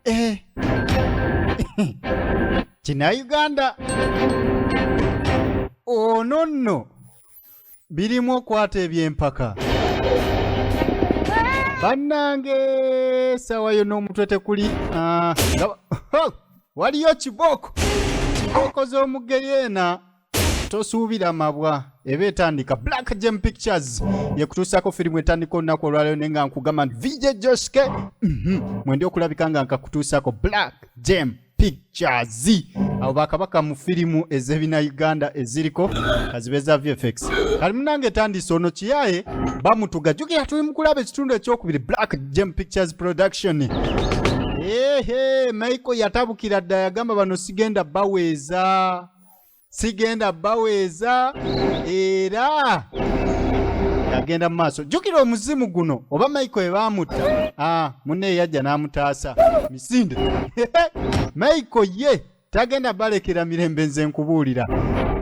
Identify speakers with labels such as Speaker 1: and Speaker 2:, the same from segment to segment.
Speaker 1: Eh. kinayuganda ono nno birimu okwata ebyempaka bannange sawa yo n'omutwe tekuli ah, nga- waliyo kibooko kibooko z'omugeyeena tosuubira mabwa eba etandika black gem pictures yekutuusako firimu etandika olunaku olwaleero naye nga nkugamba nti vj joske mhm, mwendi okulabika nga nkakutuusako black gem pictures abo bakabaka mu firimu ezebina uganda eziriko kazibe za vfx kali munange etandise ono kiyaye bamutuga jukira tuli mukulaba ekitundu ekyokubiri black gem pictures production ehe maiko yatabukira dda yagamba bano sigenda baweeza sigenda baweeza era agenda mu maaso jjukira omuzimu guno oba maiko ebaamutta ah, munne eyajja n'amutaasa misinde maiko ye tagenda balekera mirembe nze nkubuulira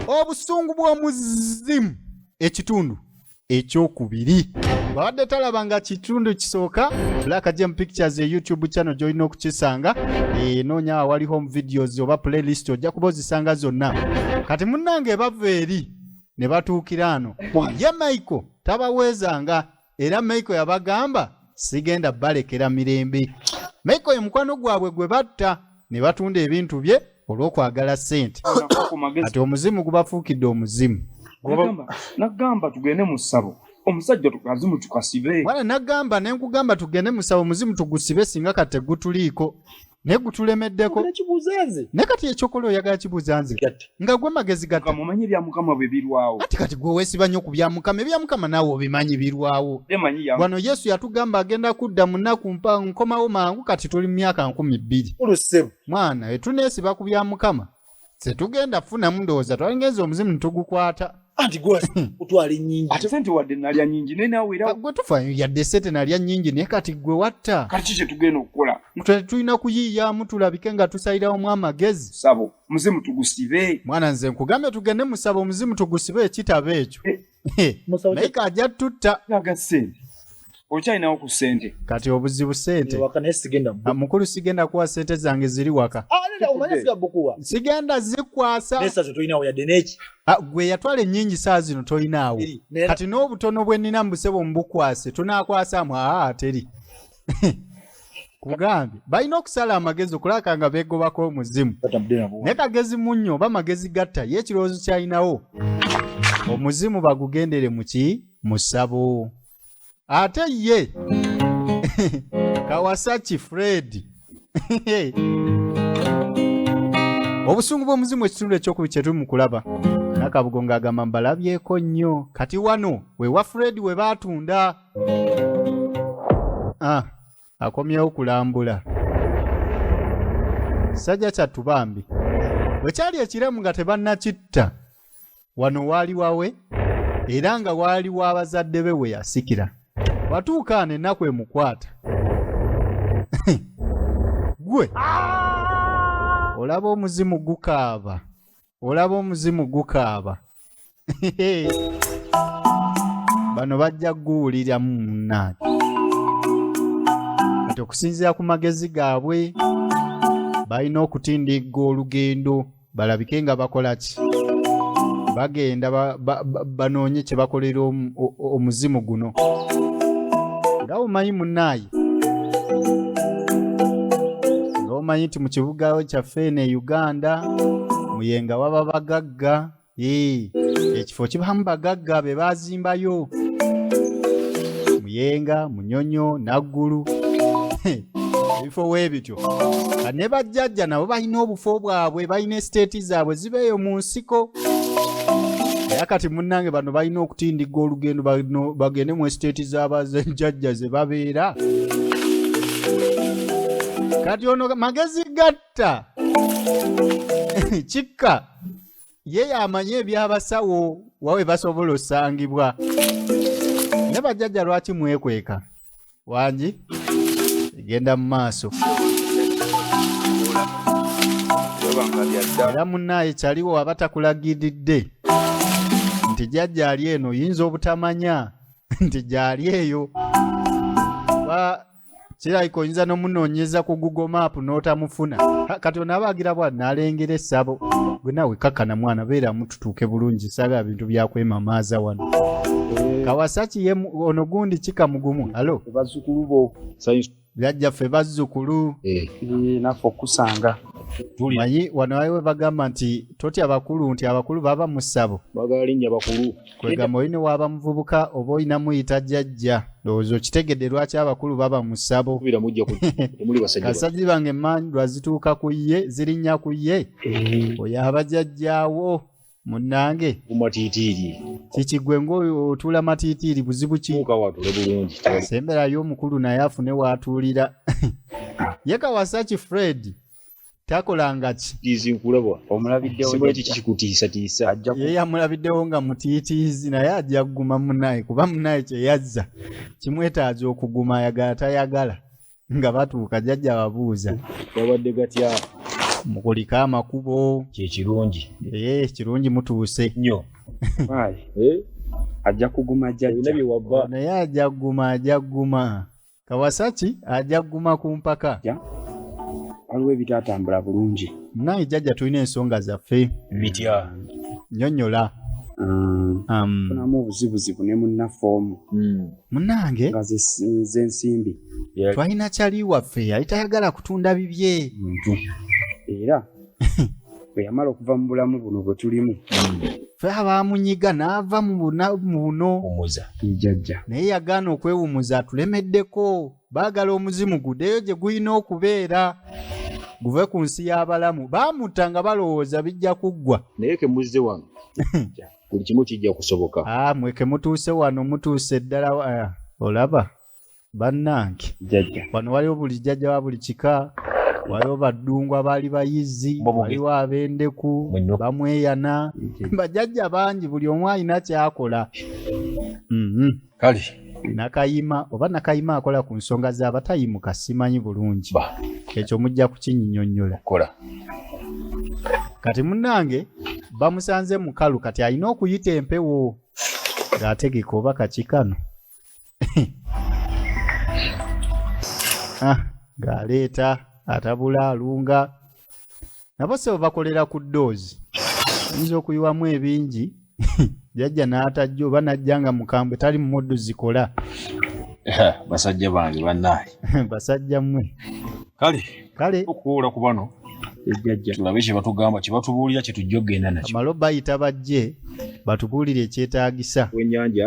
Speaker 1: obusungu bw'omuzimu ekitundu ekyokubiri bwabadde talaba nga kitundu kisooka black gem pictures e youtube channel gyolina okukisanga enoonya eh, awali home videos oba playlist ojja kuba ozisanga zonna kati munnange bava eri ne batuukira ano ye michael tabaweezanga era michael yabagamba sigenda balekera mirembe michael ye mukwano gwabwe gwe batta ne batunda ebintu bye olw'okwagala ssente kati omuzimu gubafuukidde omuzimu
Speaker 2: nagamba tugende mu ssabo omusajja tukazimu tukasibe wala nagamba ne
Speaker 1: nkugamba tugende mu ssabo omuzimu tugusibe singa kati tegutuliiko naye gutulemeddeko ne kati ekyokola oyagala kibuuza nze nga gwe magezi gata mumanye bya mukama bwe
Speaker 2: birwawo kati kati gwe wesiba nyo
Speaker 1: ku bya mukama ebya mukama nawe obimanyi birwawo emanyi ya wano yesu yatugamba agenda kudda munaku mpa nkomawo mangu kati tuli myaka nkumi bbiri ulusem mwana etunesiba ku bya mukama setugenda funa mundowoza twalingenza omuzimu ntugukwata anti gwe
Speaker 3: utwala enyingi ate sente wadde nalya
Speaker 2: nyingi naye nawe era gwe tufa yadde sente
Speaker 1: nalya nyingi naye kati gwe watta kati kiki kyetugenda
Speaker 2: okukola tulina kuyiiyamu
Speaker 1: tulabike nga tusayirawo mu amagezi sabo omuzimu
Speaker 2: tugusibe mwana nze nkugambye
Speaker 1: tugende musaba omuzimu tugusibe ekitabo ekyo eh. Eh. naye kajja tutta aga sente
Speaker 2: okyalinawo ku sente kati obuzibu sente
Speaker 1: ah, mukulu sigenda kuwa sente zange ziri waka ah, sigenda zikwasa ah, gwe yatwala enyingi saa zino tolinaawo kati n'obutono bwe nnina mbusebo mubukwase tunakwasamu aa teri kugambye balina okusala amagezi okulaka nga begobako omuzimu naye kagezi munnyo oba magezi gatta ye ekirowoozo kyalinawo omuzimu bagugendere muki musabo ate ye kawasaki fred obusungu bw'omuzimu ekitundu ekyokubiri kye tuli mu kulaba nakabugo ng'agamba mbalabyeko nnyo kati wano wewa fred we baatunda Ah, akomyewo kulambula sajja kyattu bambi bwe kyali ekiramu nga tebannakitta wano waali wawe era nga waali wa bazadde be we yasikira watuukaana ennaku emukwata gwe olaba omuzimu gukaaba olaba omuzimu gukaaba bano bajja guwuliramu munaani kati okusinziira ku magezi gaabwe balina okutindigga olugendo balabike nga bakola ki bagenda banoonye kye bakolera omuzimu guno nga omanyi munaayi omanyi nti mu kibuga kyaffe eno e uganda muyenga waba bagagga ee ekifo kibamu bagagga be bazimbayo muyenga munyonyo naggulu ebifo weebityo ne bajjajja nabo balina obufo bwabwe balina esiteeti zaabwe zibeeyo mu nsiko era kati munnange bano balina okutindigga olugendo bagende mu esiteeti zabazejjajja ze babeera kati ono magezi gatta kikka ye y'amanyi eby'abasawo wawe basobola osangibwa ne bajjajja lwaki mwekweka wangi egenda mu maaso era munaaye kyaliwo aba takulagiridde nti jjajja ali eno yinza obutamanya nti gyali eyo kirabika oyinza n'omunoonyeza ku google map n'otamufuna kati onaabagira bwa nalengera essabo gwe nawe kakkana mwana beeramu tutuuke bulungi saba ebintu byakwemamaaza wano eh. kawasaki ye ono gundi kika mugumu alo
Speaker 3: byajja ffe
Speaker 1: bazzukulu eh. eh, naffe
Speaker 3: okusanga manyi
Speaker 1: wano waliwo bagamba nti totya bakulu nti abakulu baba mu ssabo bagala linnya bakulu
Speaker 3: kwegamba olina waaba
Speaker 1: muvubuka oba olina muyita jjajja ndowooza okitegedde lwaki abakulu baba mu ssabo kasazi bange emandwa zituuka ku ye zirinnya ku ye eh. oyo abajajjaawo munange mumatitiiri
Speaker 3: kiki gwe
Speaker 1: ngaotuula matitiiri buzibu kisemberayo
Speaker 3: omukulu
Speaker 1: naye afune waatuulira ye kawasaki fred takolangaki tiizi nkulabwa
Speaker 3: omulabiddewo simuli kiki kikutiisatiisa
Speaker 1: ajja
Speaker 3: ku- ye yamulabiddewo
Speaker 1: nga mutiitiizi naye ajja kuguma munaye kuba munaye kye yazza kimwetaaza okuguma ayagala tayagala nga batuuka jajja babuuza gabadde gatya
Speaker 3: mukulike
Speaker 1: amakubo kyekirungi
Speaker 3: ee kirungi
Speaker 1: mutuuse nnyo
Speaker 3: Why? Eh, ajja kuguma ebina jajja bye wabba naye ajja
Speaker 1: kuguma ajja kuguma kawasaki ajja kuguma ku mpaka
Speaker 3: waliwo ebitatambula bulungi naye jjajja tulina
Speaker 1: ensonga zaffe bitya
Speaker 3: nyonyola mm. um, funamu obuzibuzibu ne munnaffe omu mm. munange
Speaker 1: nga
Speaker 3: zensimbi twalina
Speaker 1: kyali waffe yali tayagala kutunda bibye
Speaker 3: era bwe yamala okuva mu bulamu buno bwe tulimu fe
Speaker 1: abaamunyiga n'ava mu buna- mu buno umuza
Speaker 3: ijajja naye yagaana
Speaker 1: okwewumuza atulemeddeko baagala omuzimu gudeyo gye gulina okubeera guve ku nsi y'abalamu baamuta nga balowooza bijja kuggwa naye ke muzze wano
Speaker 3: buli kimu kijja kusoboka Ah, mwe ke mutuuse
Speaker 1: wano mutuuse ddala wa- ah, olaba bannange wano
Speaker 3: waliwo buli jjajja
Speaker 1: wa buli kika waliwo baddungu abaali bayizzi waliwo ab'endeku bamweyana bajajja bangi buli omu alina kyakola mhm.
Speaker 3: kale nakayima
Speaker 1: oba nakayima akola ku nsonga z'abatayimuka simanyi bulungi ekyo mujja kukinyinyonnyola kati munnange bamusanze mukalu kati alina okuyita empewo ng'ategeka oba kakikano ah, ng'aleeta atabula alunga nabo sebo bakolera ku doozi oyinza okuyiwamu ebingi jajja n'atajja oba n'ajja nga mukambwe tali mu moddu zikola
Speaker 3: basajja bange banaye basajja mmwe
Speaker 1: kale kale
Speaker 3: okuwoola ku bano ejjajja tulabe kye batugamba kye batubuulira kye tujja okugenda nakyo amalo bayita bajje
Speaker 1: batubuulire ekyetaagisa wenyanja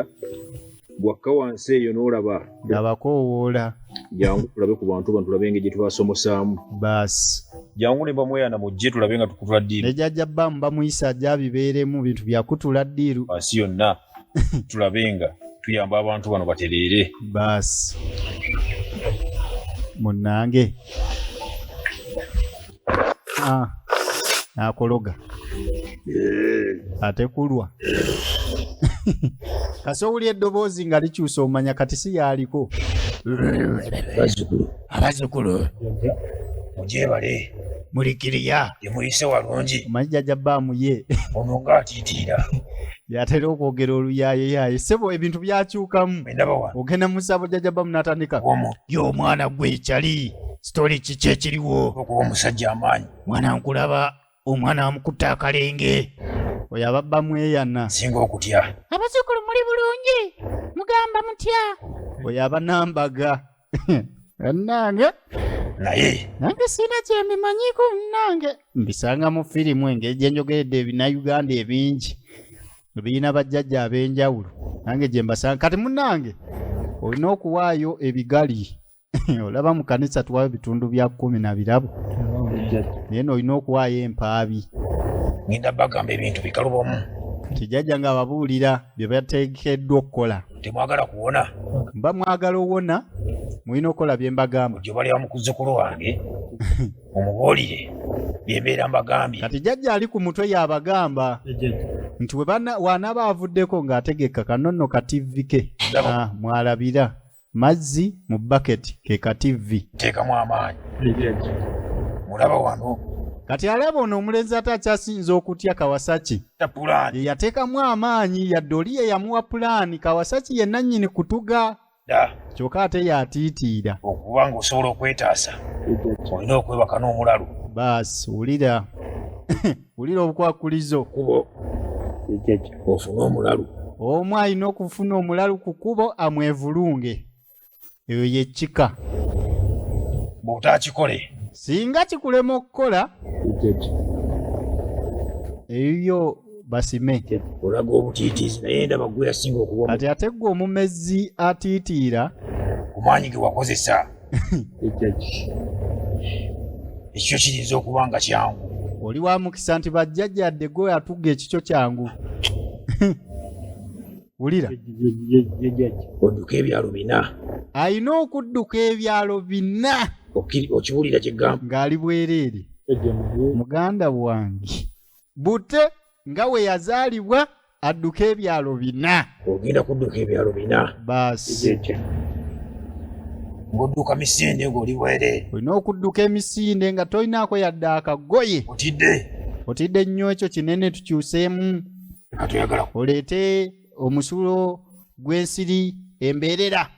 Speaker 3: gwakka wansi eyo n'olaba abakoowoola
Speaker 1: jangu
Speaker 3: tulabe ku bantu bano tulabe engeri gye tubasomosaamu baasi
Speaker 1: jangu ne bamweyana
Speaker 3: mujje tulabe nga tukutula ddiiru ne jajja bamu bamuyisa
Speaker 1: ajja abibeeremu bintu byakutula ddiiru wansi yonna
Speaker 3: tulabe nga tuyamba abantu bano batereere baasi
Speaker 1: munange ah, nakologa eh. ate kulwa kasi owulya eddoboozi nga likyusa omanya kati si yaaliko
Speaker 3: abazukulu mugyebale mulikiriya
Speaker 1: yemuyise walungi
Speaker 3: omanyi jajja baamu
Speaker 1: ye ono nga atiitiira
Speaker 3: yatera
Speaker 1: okwogera oluyaayeyaaye sebo ebintu byakyukamu ogenda mu ssabo jajaba munatandika ye omwana gwe ekyali sitole kiki ekiriwo okuba omusajja amaanyi
Speaker 3: mwana nkulaba
Speaker 1: omwana amukutte akalenge oyo ababba mweyana singa okutya
Speaker 3: abazukulu muli
Speaker 4: bulungi mugamba mutya oyo
Speaker 1: abanambaga bannange naye
Speaker 3: nange sirina
Speaker 1: kyembimanyiiko munange mbisanga mu firimu engeri gye njogeredde ebinayuganda ebingi birina bajjajja ab'enjawulo nange gye mbasanga kati munange olina okuwaayo ebigali olaba mu kanisa tuwayo bitundu bya kkumi na birabo naye noolina okuwaayo empaabi ngenda
Speaker 3: bagamba ebintu bikalubamu kijjajja
Speaker 1: ng'ababuulira bye bateekeddwa okukola temwagala kuwona
Speaker 3: mba mwagala
Speaker 1: owona mulina okukola bye mbagamba gyobaleba mu kuzzukulu
Speaker 3: wange omubuulire bye mbeera mbagambye kati jajja ali ku mutwe
Speaker 1: yabagamba nti wanaaba avuddeko ng'ategeka kanonno ka tivi ke ah, mwalabira mazzi mu baketi ke ka tivi teekamu amaanyi
Speaker 3: mulaba wano kati alaba ono
Speaker 1: omulenzi ate akyasinza okutya kawasaki tapulaani yeyateekamu amaanyi yadde oli yeyamuwa pulaani kawasaki ye nannyini kutuga da kyokka ate yatiitiira okuba ng'osobola
Speaker 3: okwetaasa olina okwebaka n'omulalu baasi wulira
Speaker 1: wulira obukwakulizo kubo
Speaker 3: ofune omulalu omu alina
Speaker 1: okufuna omulalu ku kubo amwevulunge eyo ye kika bw'otakikole
Speaker 3: singa kikulema
Speaker 1: okukola eyiyo basime olaga
Speaker 3: obutiitiizi naye ndaba gwe yasinga okuba kati ate gwe omumezi
Speaker 1: atiitiira ku maanyi
Speaker 3: ge wakozesa ekikyo kiyinza okuba nga kyangu oli wa mukisa
Speaker 1: nti bajjajjadde gwe atuga ekikyo kyangu wulira
Speaker 3: odduka ebyalo bina alina
Speaker 1: okudduka ebyalo bina okiwulira
Speaker 3: kyegamba ng'ali bwereere
Speaker 1: muganda wange bute nga we yazaalibwa adduka ebyalo bina ogenda kudduka
Speaker 3: ebyalo bina baasi ng'odduka misinde ng'oli bwereere olina okudduka
Speaker 1: emisinde nga tolinaako yadde akagoye otidde otidde nnyo ekyo kinene tukyuseemu
Speaker 3: oleete
Speaker 1: omusulo gw'ensiri embeerera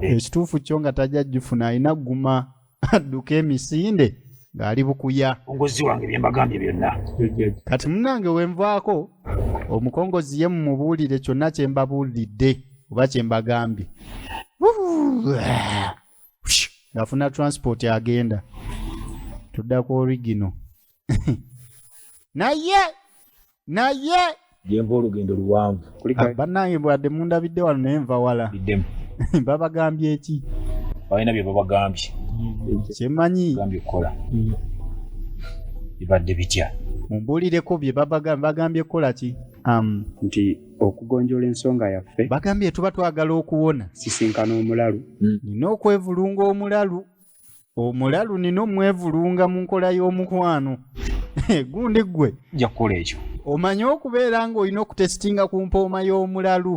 Speaker 1: ekituufu kyo nga tajja jufuna alina guma adduka emisinde ng'ali bukuya ongozi wange byembagambye
Speaker 3: byonna kati munange
Speaker 1: wenvaako omukongozi ye mumubuulire kyonna kye mbabuulidde oba kye mbagambye ng'afuna transport agenda tudda ku origino naye naye gyenva
Speaker 3: olugendo luwanvu ah, bannange bwadde
Speaker 1: mundabidde wano naye nva wala iddemu
Speaker 3: babagambye
Speaker 1: eki balina bye
Speaker 3: babagambye kyemanyi
Speaker 1: gambye kukola
Speaker 3: mm. bibadde bitya mumbuulireko bye
Speaker 1: bagambye kukola ki um, nti
Speaker 2: okugonjola ensonga yaffe bagambye tuba twagala
Speaker 1: okuwona sisinkana omulalu
Speaker 2: mm. nina okwevulunga
Speaker 1: omulalu omulalu nina omwevulunga mu nkola y'omukwano gundi ggwe ja kukola ekyo
Speaker 3: omanyi okubeera
Speaker 1: ng'olina okutesitinga ku mpooma y'omulalu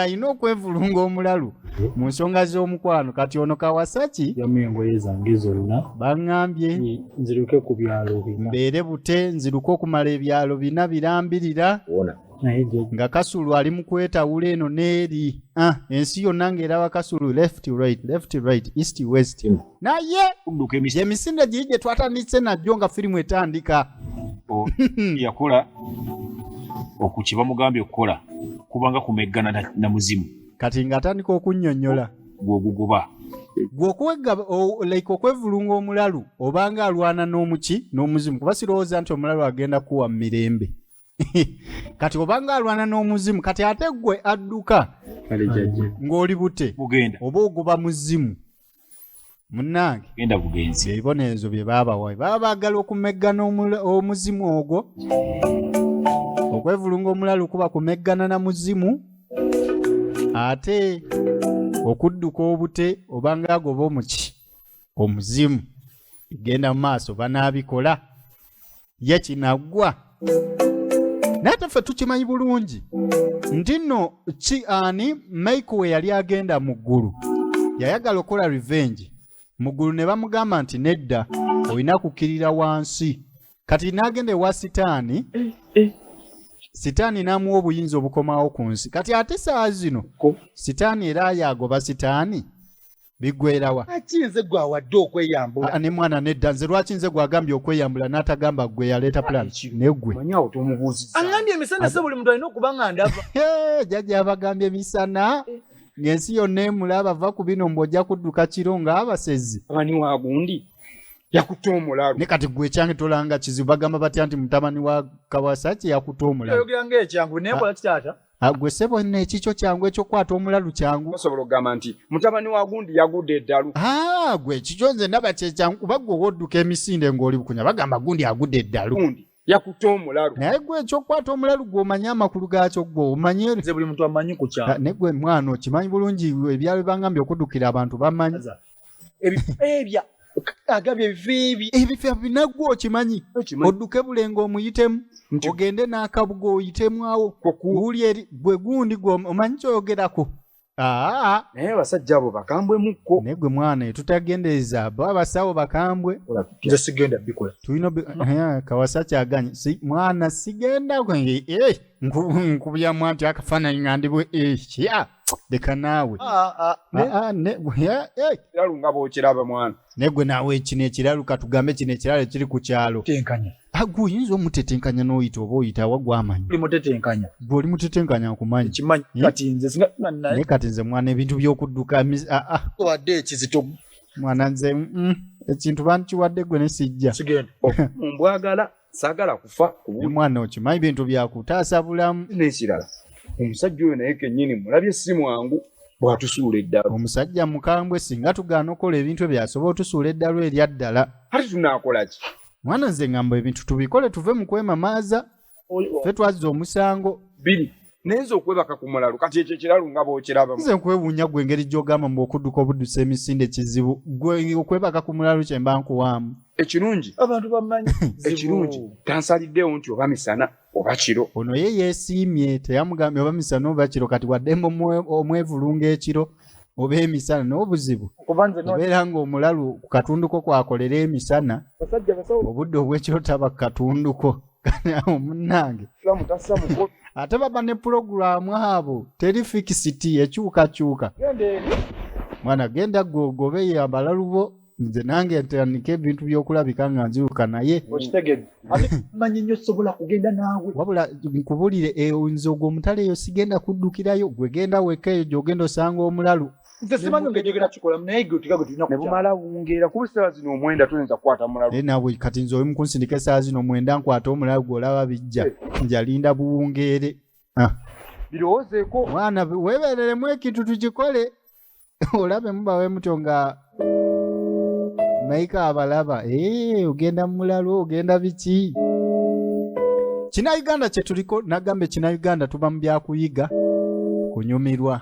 Speaker 1: alina okwevulunga omulalu mu nsonga z'omukwano kati ono kawasaki yamu engoye zange
Speaker 2: zonna baŋŋambye
Speaker 1: nziruke ku
Speaker 2: byalo bina mbeere bute nziruke
Speaker 1: okumala ebyalo bina birambirira wona
Speaker 3: nga
Speaker 2: kasulu ali mu
Speaker 1: kwetawula eno n'eri ah, ensi yonna ng'eraba kasulu left right left right east west hmm. naye
Speaker 3: emisinde giri gye twatandise
Speaker 1: najjo nga firimu etandika
Speaker 3: yakola okuki bamugambye okukola kubanga kumeggana na muzimu kati ng'atandika
Speaker 1: okunnyonnyola gwoguguba like okwevulunga omulalu obanga alwana n'omuki n'omuzimu kuba sirowooza nti omulalu agenda kuwa mu mirembe kati obanga alwana n'omuzimu kati ate gwe adduka kale jajja
Speaker 2: ng'oli bute
Speaker 1: bugenda oba ogoba
Speaker 3: muzimu
Speaker 1: munnange genda bugenzi
Speaker 3: ebibonerezo bye baabawa
Speaker 1: baba baagala okumeggana omula- omuzimu ogwo okwevulunga omulalu kuba kumeggana na muzimu ate okudduka obute obanga agoba omuki omuzimu bigenda mu maaso banaabikola ye kinaggwa naye ate ffe tukimanyi bulungi nti nno ki ani maiko we yali agenda mu ggulu yayagala okukola revenge mu ggulu ne bamugamba nti nedda olina kukkirira wansi kati n'agenda ewa sitaani sitaani n'amuwa obuyinza obukomawo ku nsi kati ate saa zino sitaani era yaagoba sitaani bigwerawa lwaki nze gwe
Speaker 5: awadde okweyambula Ah, ne mwana nedda nze
Speaker 1: lwaki nze gwagambye okweyambula n'atagamba gwe yaleeta plan negwe manyi awo tomubuuziza
Speaker 5: aŋambye emisana se buli muntu alina okuba nga ndava Hey, jajja abagambye
Speaker 1: emisana ng'ensi yonna emulaba va ku bino mbu ojja kudduka kiro ng'abasezi abani wa gundi
Speaker 5: yakutte omulalu ne kati gwe
Speaker 1: ekyange
Speaker 5: tolanga
Speaker 1: kizibu bagamba batya nti mutabani wa kawasaki yakuta omulalu oyogera ngaekyangu naye
Speaker 5: kola kitaata agwe ah, sebo ne
Speaker 1: chicho kyangu ekyo kwata omulalu kyangu osobola ogamba nti
Speaker 5: mutabani wa gundi yagude eddalu ah gwe chicho
Speaker 1: nze ndaba kye kyangu kuba gwe wodduka emisinde ng'oli bukunya bagamba gundi agude eddalu gundi yakutte
Speaker 5: omulalu naye gwe ekyokukwata
Speaker 1: omulalu gwe omanyi amakulu gaakyo gwe omanyi nze buli muntu amanyi ku
Speaker 5: kyalo ah, naye gwe mwana okimanyi
Speaker 1: bulungi ebyalo bibangambye okuddukira abantu bamanyi ebifeebya
Speaker 5: agabye ebifeebye ebifeebya binaggwa
Speaker 1: okimanyi odduke bulenga omuyitemu ogende n'akabuga oyitemu wuli eri gwe gundi gwe omanyi kyoyogerako naye
Speaker 5: abasajja abo bakambwe mukko naye gwe mwana
Speaker 1: etutagendereza bo abasawo bakambwe nze sigenda
Speaker 5: bikola tulina
Speaker 1: kawasa kyaganye mwana sigenda eh, nkubyamu anti akafaananyi nga ndibwe ekya eh, leka naawe Ah, ah, Ne- ah, ah, ne- ya- eh.
Speaker 2: ekiralu nga bwokiraba mwana naye gwe naawe kino
Speaker 1: ekiralu katugambe kino ekiralu ekiri ku kyalo tenkanya Ah, gwe
Speaker 5: oyinza
Speaker 1: omutetenkanya n'oyita oba oyita awa gwamanya oli mutetenkanya
Speaker 5: gwe oli mutetenkanya
Speaker 1: nkumanyi ekimanyi Eh? kati nze
Speaker 5: singa nga naye naye kati nze mwana
Speaker 1: ebintu by'okudduka emiz- ah, ah, wadde
Speaker 5: ekizito mwana nze
Speaker 1: mm, ekintu bankiwadde gwe ne sijja sigenda ombwagala
Speaker 2: sagala kufa omwana okimanyi bintu
Speaker 1: byakutaasa bulamu nekirala
Speaker 2: omusajja oyo naye kenyini mulabye si mwangu bwatusuula eddalu omusajja mukambwe
Speaker 1: singa tugaana okukola ebintu ebyo asobola otusuula eddalu erya ddala kati tunakola
Speaker 2: ki mwana nze ngamba
Speaker 1: ebintu tubikole tuve mu kwemamaaza fe twazza omusango biri naye
Speaker 2: nze okwebaka ku mulalu kati ekyo ekiralu nga bwokiraba nze nkwewuunya gwe
Speaker 1: engeri gy'ogamba mbu okudduka obuddusa emisinde kizibu gwe okwebaka ku mulalu kye mba nkuwaamu ekirungi abantu
Speaker 2: bamanyi
Speaker 5: ekirungi
Speaker 2: tansaliddeewo nti oba misana oba kiro ono ye yeesiimye
Speaker 1: teyamugambye oba misana oba kiro kati waddemu omwevulunga ekiro oba emisana n'obuzibu obeera ng'omulalu ku katunduko kwakolera emisana obudde obw'ekiro taba ku katunduko kanawo munange ate baba ne pulogulaamu abo teri fikisiti ekyukakyuka mwana genda gwe ogobe yambala lubo nze nange ntandika ebintu byokulabika nga nziruka naye
Speaker 5: manyi nyo sobola kugenda naawe wabula nkubulire
Speaker 1: eyo nze ogwo omutale eyo sigenda kuddukirayo gwegenda weka eyo gyogenda osanga omulalu nze simanyi nga njogera
Speaker 5: kikolamu naye gwe otika gwe tulina ne bumala wungeera
Speaker 2: kuba essaawa zino omwenda toyinza kukwata mulalu naye naawe kati nze oli
Speaker 1: mukunsindika essaawa zino omwenda nkwata omulalu gw'olaba bijja eh. njalinda buwungeere ah.
Speaker 2: birowoozeeko mwana
Speaker 1: weebereremu ekintu tukikole olabe mubawe mutyo nga maika abalaba eh, ogenda mulalu ogenda biki kina uganda kyetuliko nagamba ekina uganda tuba mu byakuyiga kunyumirwa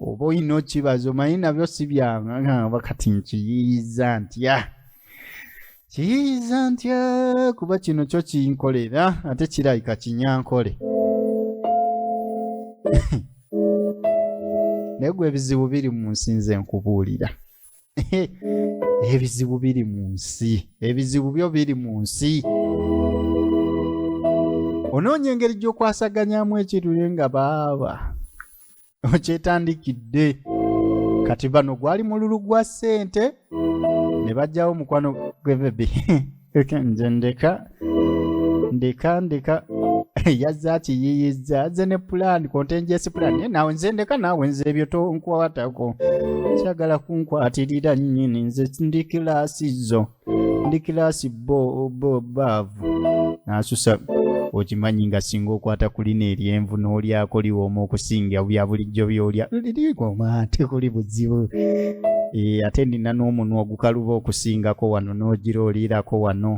Speaker 1: oba oyina okibaza omanyi nabyo si byangamba kati nkiyiiza ntya kiyiiza ntya kuba kino kyo kinkolera ate kirabika kinyankole naye gwe ebizibu biri mu nsi nze nkubuulira ebizibu biri mu nsi ebizibu byo biri mu nsi onoonya engeri gy'okwasaganyamu ekirule nga baaba okyetandikidde kati bano gwali mululu gwa ssente ne bajjawo mukwano gwebebi Eka nze ndeka ndeka ndeka yazze akiyiyizza azze ne pulaani kontenjesi pulaani naye nawe nze ndeka naawe nze ebyo tonkwatako kyagala kunkwatirira nnyini nze ndi kilaasi zo ndi kilaasi bo bo baavu n'asusa okimanyi nga singa okwata ku lino eryenvu n'olyako liwooma okusinga bya bulijjo by'olya lirigoma ate kuli buzibu eh, ate nina n'omunwa kukaluba okusingako wano n'ogira oliirako wano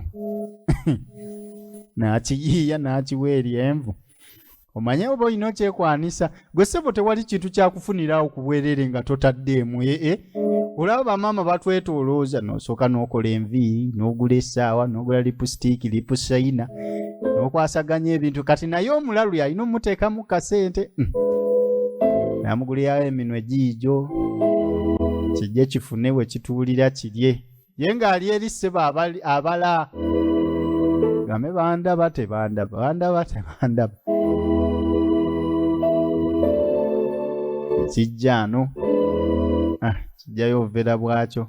Speaker 1: n'akiyiiya n'akiwa eri envu omanye oba olina okyekwanisa gwe ssebo tewali kintu kyakufuniraawo ku bwereere nga totaddeemu ee eh, eh. olaba bamaama batwetolooza nosooka n'okola enviiri n'ogula essaawa n'ogula lipusitiiki lipusaina nokwasaganya ebintu kati naye omulalu yalina omuteekamu kasente hmm. namuguliyawo eminwe giijo kijje kifune we kituulira kirye ye ng'ali eri ssebo abala game bandaba tebandaba bandaba tebandaba kijja no ah, kijjayo obuvera bwakyo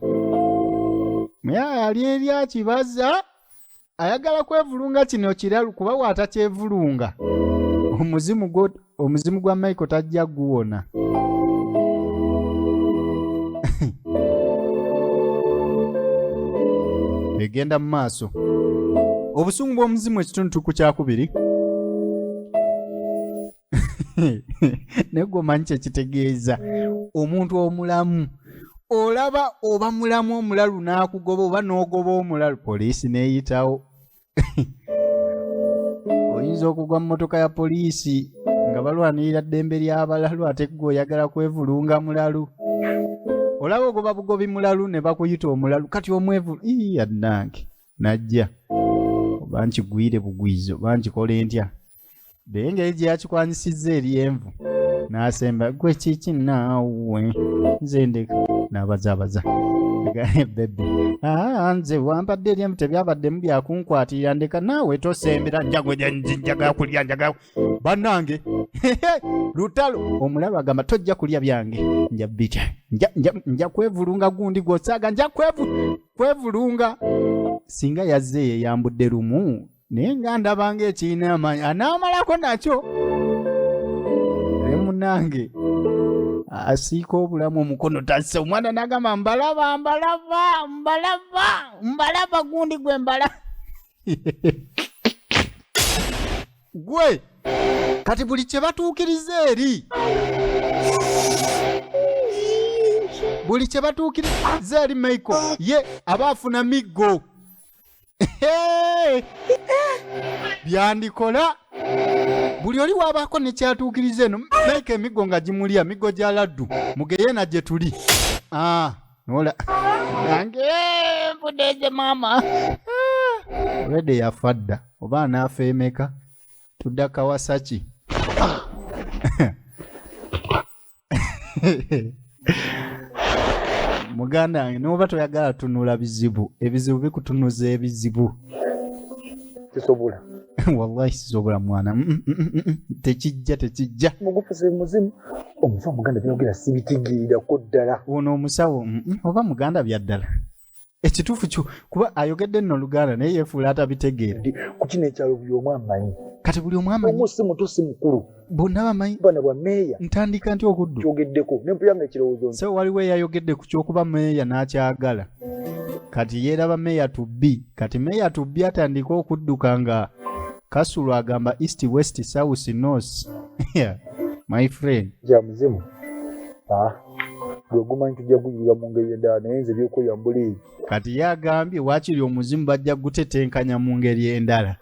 Speaker 1: muyaya ali eri akibaza ayagala kwevulunga kino kiralu kuba waatakyevulunga omuzimu gwo omuzimu gwa michael tajja guwona egenda mu maaso obusungu bw'omuzimu ekitundu tuku kyakubiri naye gwe omanyi kyekitegeeza omuntu omulamu olaba oba mulamu omulalu n'akugoba oba n'ogoba omulalu poliisi n'eyitawo oyinza okugwa mu motoka ya poliisi nga balwanirira ddembe ly'abalalu ate gwe oyagala kwevulunga mulalu olaba ogoba bugobi mulalu ne bakuyita omulalu kati omwevulu ii adnange najja oba nkigwire bugwizo oba nkikole ntya naye engeri gye yakikwanyisizza eri envu n'asemba gwe kiki naawe nze ndeka n'abazaabaza bebe ah, nze wampadde eri envu tebyabaddemu byakunkwatirira ndeka naawe tosembera njagwenjagala kulya njagala bannange lutalo omulalu agamba tojja kulya byange nja bitya nja kwevulunga gundi gwosaaga nja kwevulunga singa yazze yeyambudde lumu naye nga ndabanga ekirina amaanyi anaamalako nakyo naye munange asiika obulamu omukono tassa omwana nagamba mbalaba mbalaba mbalaba mbalaba gundi gwe mbala gwe kati buli kye batuukiriza eri buli kye batuukiriza eri michael ye aba afuna miggo Hey! byandikola buli oli waabaako ne kyatuukiriza eno meeka emiggo nga gimulya miggo gya laddu mugeyeena gye tuli Ah, nola nange eh, nfudeze maama Ah, rede yafa dda oba anaafa emeka tudda kawasaki muganda wange noba toyagala tunula bizibu ebizibu bikutunuza ebizibu
Speaker 5: kisobola wallahi
Speaker 1: sisobola mwana mm, mm, mm, tekijja tekijja mugufuze
Speaker 5: muzimu omusawo muganda byogera sibitigiirako ddala ono omusawo
Speaker 1: oba muganda byaddala ekituufu kyo kuba ayogedde nno oluganda naye yefuula atabitegeera ku kino ekyalo
Speaker 5: buli omu amanyi kati buli omu amanyi omu
Speaker 1: si muto si mukulu
Speaker 5: bonna bamanyi bana
Speaker 1: bwa meeya
Speaker 5: ntandika nti okuddu
Speaker 1: kyogeddeko nempuyanga
Speaker 5: ekirowoozo nti se waliwo eyayogedde
Speaker 1: ku kyokuba meeya n'akyagala kati yeeraba meeya tubbi kati meeya tubbi atandika okudduka nga kasulo agamba east west south north my friend gya muzimu
Speaker 5: ah. gwegumanyi tujja kuyirira mu ngeri endala naye nze byokulya mbuleeyi kati ye agambye
Speaker 1: wakiri omuzimu bajja kugutetenkanya mu ngeri endala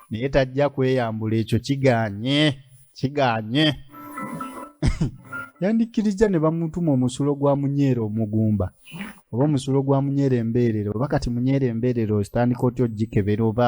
Speaker 1: naye tajja kweyambula ekyo kiganye kiganye yandikkirizza ne bamutuma omusulo gwa munyeera omugumba oba omusulo gwa munyeera embeerero oba kati munyeera embeerero ositandika otya ogikebera oba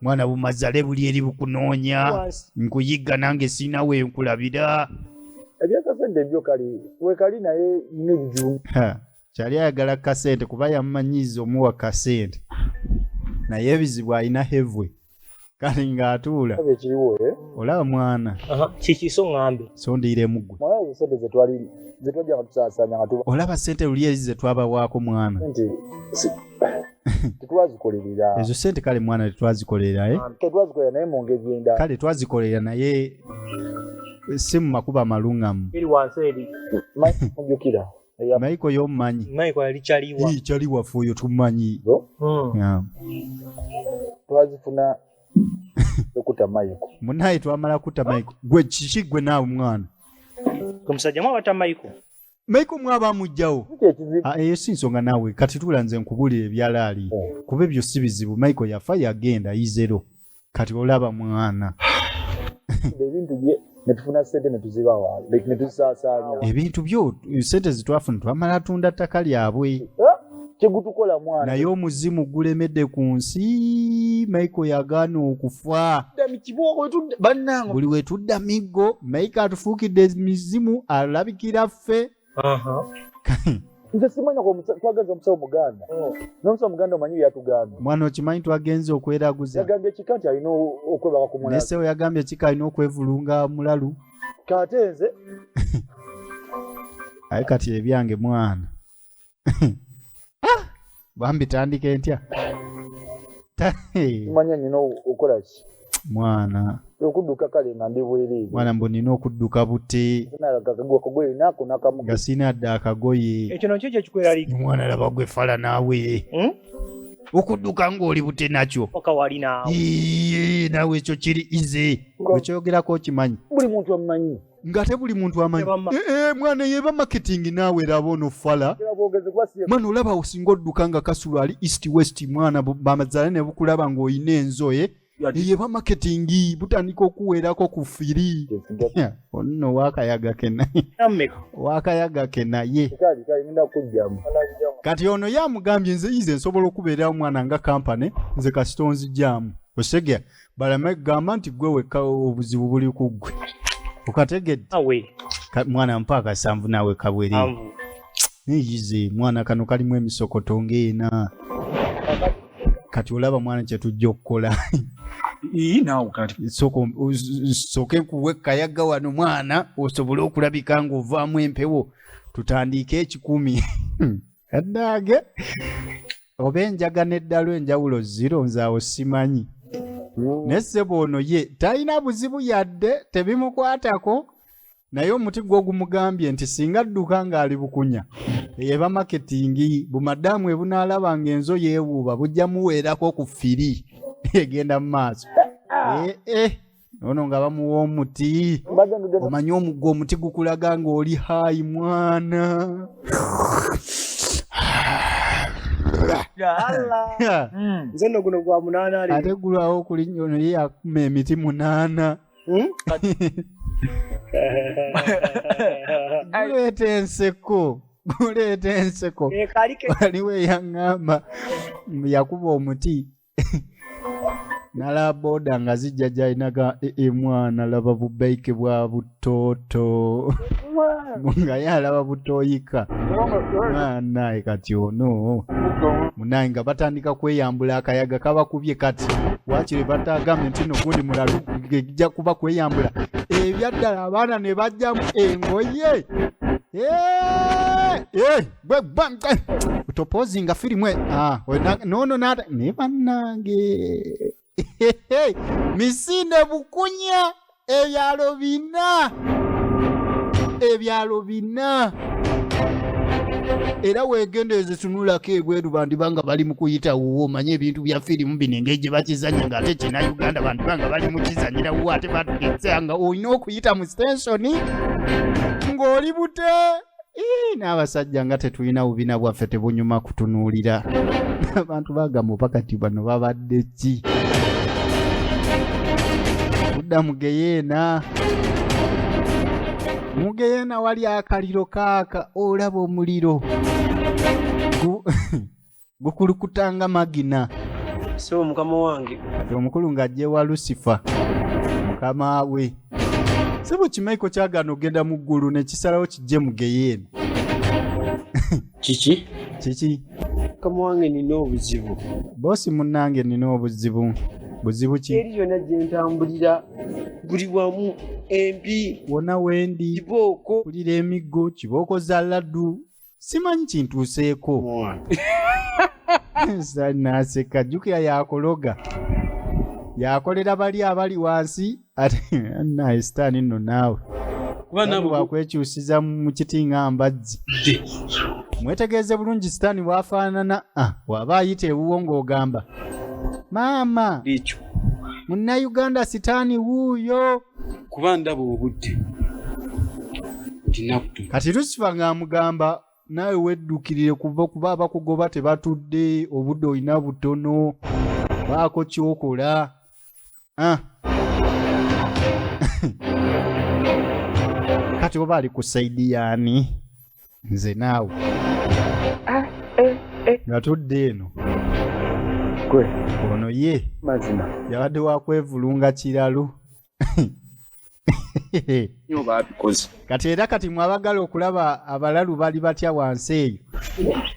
Speaker 5: mwana bumazale
Speaker 1: buli eri bukunoonya nkuyigga nange siina we nkulabira ebyakasente
Speaker 5: byo kali wekali naye nebiju kyali
Speaker 1: ayagala kasente kuba yamumanyiiza omuwa kasente naye ebizibu alina hevwe kale ng'atuula eh?
Speaker 5: olaba mwana
Speaker 1: kikiso ŋambe
Speaker 5: sondiire mugwe olaba sente luli eri ze
Speaker 1: twabawaako mwana
Speaker 5: tetwazikolerera ezo sente kale mwana
Speaker 1: tetwazikolerera eh? Um, tetwazikolerera naye mu
Speaker 5: ngeri endala kale twazikolerera naye
Speaker 1: eh, si mu makubo amalungamu eri wansi eri
Speaker 5: mujukira maiko
Speaker 1: yomumanyi maiko yali caliwa
Speaker 5: cali waffe oyo
Speaker 1: tumanyi hmm.
Speaker 5: twazifuna okuta maiko munaye twamala kuta
Speaker 1: maiko gwe kiki gwe naawe mwana omusajja
Speaker 5: mwabata maiko Michael
Speaker 1: mwaba mujjawo. Ah, eyo si nsonga naawe kati tuula nze nkubulira ebyalaali oh. kuba ebyo si bizibu Michael yafa yagenda izero kati olaba mwana.
Speaker 5: netufuna sente netuzibawa like netuzisasanya ebintu byo
Speaker 1: sente zitwafuna twamala tunda ttaka lyabwe eh? tegutukola
Speaker 5: mwana naye omuzimu
Speaker 1: gulemedde ku nsi maiko yagaana okufa buli wetudda miggo maiko atufuukidde emizimu alabikira ffe
Speaker 5: nze simanya twagaza omusawo muganda oh. nomusawo muganda omanyi byeyatugamba mwana okimanyi twagenze
Speaker 1: okweraguza yagambye kika nti alina
Speaker 5: okwebaka ku mulalu nesewo yagambye kika alina
Speaker 1: okwevulunga
Speaker 5: mulalu
Speaker 1: kate nze aye kati ebyange mwana Ah, bambi tandika entya Ta- eh,
Speaker 5: manya nyina okola ki mwana
Speaker 1: okuduka kale
Speaker 5: nga ndi bwereere mwana mbu nina okudduka
Speaker 1: bute nalagakagoye
Speaker 5: nako nakamu nga sina dda akagoye
Speaker 1: ekyo nakyo kyekikweraliika
Speaker 6: mwana laba gwe fala
Speaker 1: naawe Hmm? okudduka ng'oli bute nakyo oka walinaawo
Speaker 6: Iye, naawe
Speaker 1: ekyo kiri ize Nga- wekyogerako okimanyi buli muntu amumanyi
Speaker 5: ngate buli muntu
Speaker 1: amanyi eh, eh, mwana yeba marketing naawe laba ono fala mwana olaba osinga odduka nga kasulu ali east west mwana bamazala ne bukulaba ng'olina enzoye eh, yeba marketing butandika okuweerako ku firi onno wakayaga kena wakayaga kenaye kati ono yamugambye nze yize nsobola okubeerawo mwana nga kampane nze kasita onzijaamu osegea baleme kugamba nti gwe wekka obuzibu buli ku ggwe okategedde mwana mpa akasanvu naawe kabwere neyize mwana kano kalimu emisokoto ngaena kati olaba mwana kyetujja okukola sooka enkuwa ekkayaga wano mwana osobole okulabika ng'ovaamu empewo tutandiike ekikumi addaage oba enjaga n'eddalu enjawulo ziro nze awo simanyi naye ssebo ono ye talina buzibu yadde tebimukwatako naye omuti gwo gumugambye nti singa adduka ng'ali bukunya eba maketingi bumadaamu ebunaalaba ng'enzo yeewuuba bujja muweerako ku firi egenda mu maaso eh, eh. ono nga bamuwa omuti omanyi omugwa omuti gukulaga ng'oli hayi mwana hmm.
Speaker 6: nze no guno gwa munaana ali ate gulwawo okuli nyo
Speaker 1: naye yakuma emiti munaana hmm? guleeta enseko guleeta enseko eh, waliwo eyaŋŋamba yakuba omuti nalaba boda nga zijja gyalinaga ee mwana laba bubaike bwa butooto nga ye alaba butoyika naye kati ono munaye nga batandika kweyambula akayaga kabakubye kati wakiri batagambe nti no gundi mulalu gejja kuba kweyambula ebyaddala abaana ne bajjamu engoye Gwe gwa gwe. Utopozinga filimu e. Ah, we na, no no nada. Ne banange. Hehe. Misinde bukunya ebyalo bina. Ebyalo bina. era wegendereze tunulako ebweru bantu banga bali mu kuyita wuwo omanye ebintu bya firimu bino engeri gye bakizanya nga ate kyena uganda bantu banga bali mu kizanyira wuwo ate batugezea nga olina okuyita mu sitensoni ng'oli bute n'abasajja nga tetulina bubina bwaffe tebunyuma kutunuulira abantu bagamba oba kati bano babadde ki kudda mugeyeena mugeyeena wali akaliro kaaka olaba omuliro gukulukuta nga magina sebo mukama
Speaker 6: wange omukulu ng'ajja ewa
Speaker 1: lusifa mukama we sebo kimaiko kyagaana okugenda mu ggulu ne kisalawo kijje mu geyeena kiki
Speaker 6: kiki mukama
Speaker 5: wange nina obuzibu boosi munnange
Speaker 1: nina obuzibu buzibu ki eri yonna gye ntambulira
Speaker 5: buli wamu empi wona wendi
Speaker 1: kibooko kulira
Speaker 5: emiggo
Speaker 1: kibooko za laddu simanyi kintuuseeko naseka jjukira yakuloga yakolera bali abali wansi ate naye sitaani nno naawe kuba nabo
Speaker 3: wakwekyusiza mu
Speaker 1: kiti nga mbazzi mwetegeeze bulungi sitaani bwafaanana ah, waba ayita ewuwo ng'ogamba maama ekyo
Speaker 3: munnayuganda
Speaker 1: sitaani wuuyo kuba ndaba
Speaker 3: obudde ndinakutu
Speaker 1: kati lusifa ng'amugamba naawe weddukirire kuva kuba abakugoba tebatudde obudde olina butono baako kyokola ah. kati oba ali ku saidi yaani nze naawe ah, eh, eh. nga tudde eno gwe ono ye mazima yabadde
Speaker 5: wakwevulunga
Speaker 1: kiralu kati era kati mwabagala okulaba abalalu bali batya wansi eyo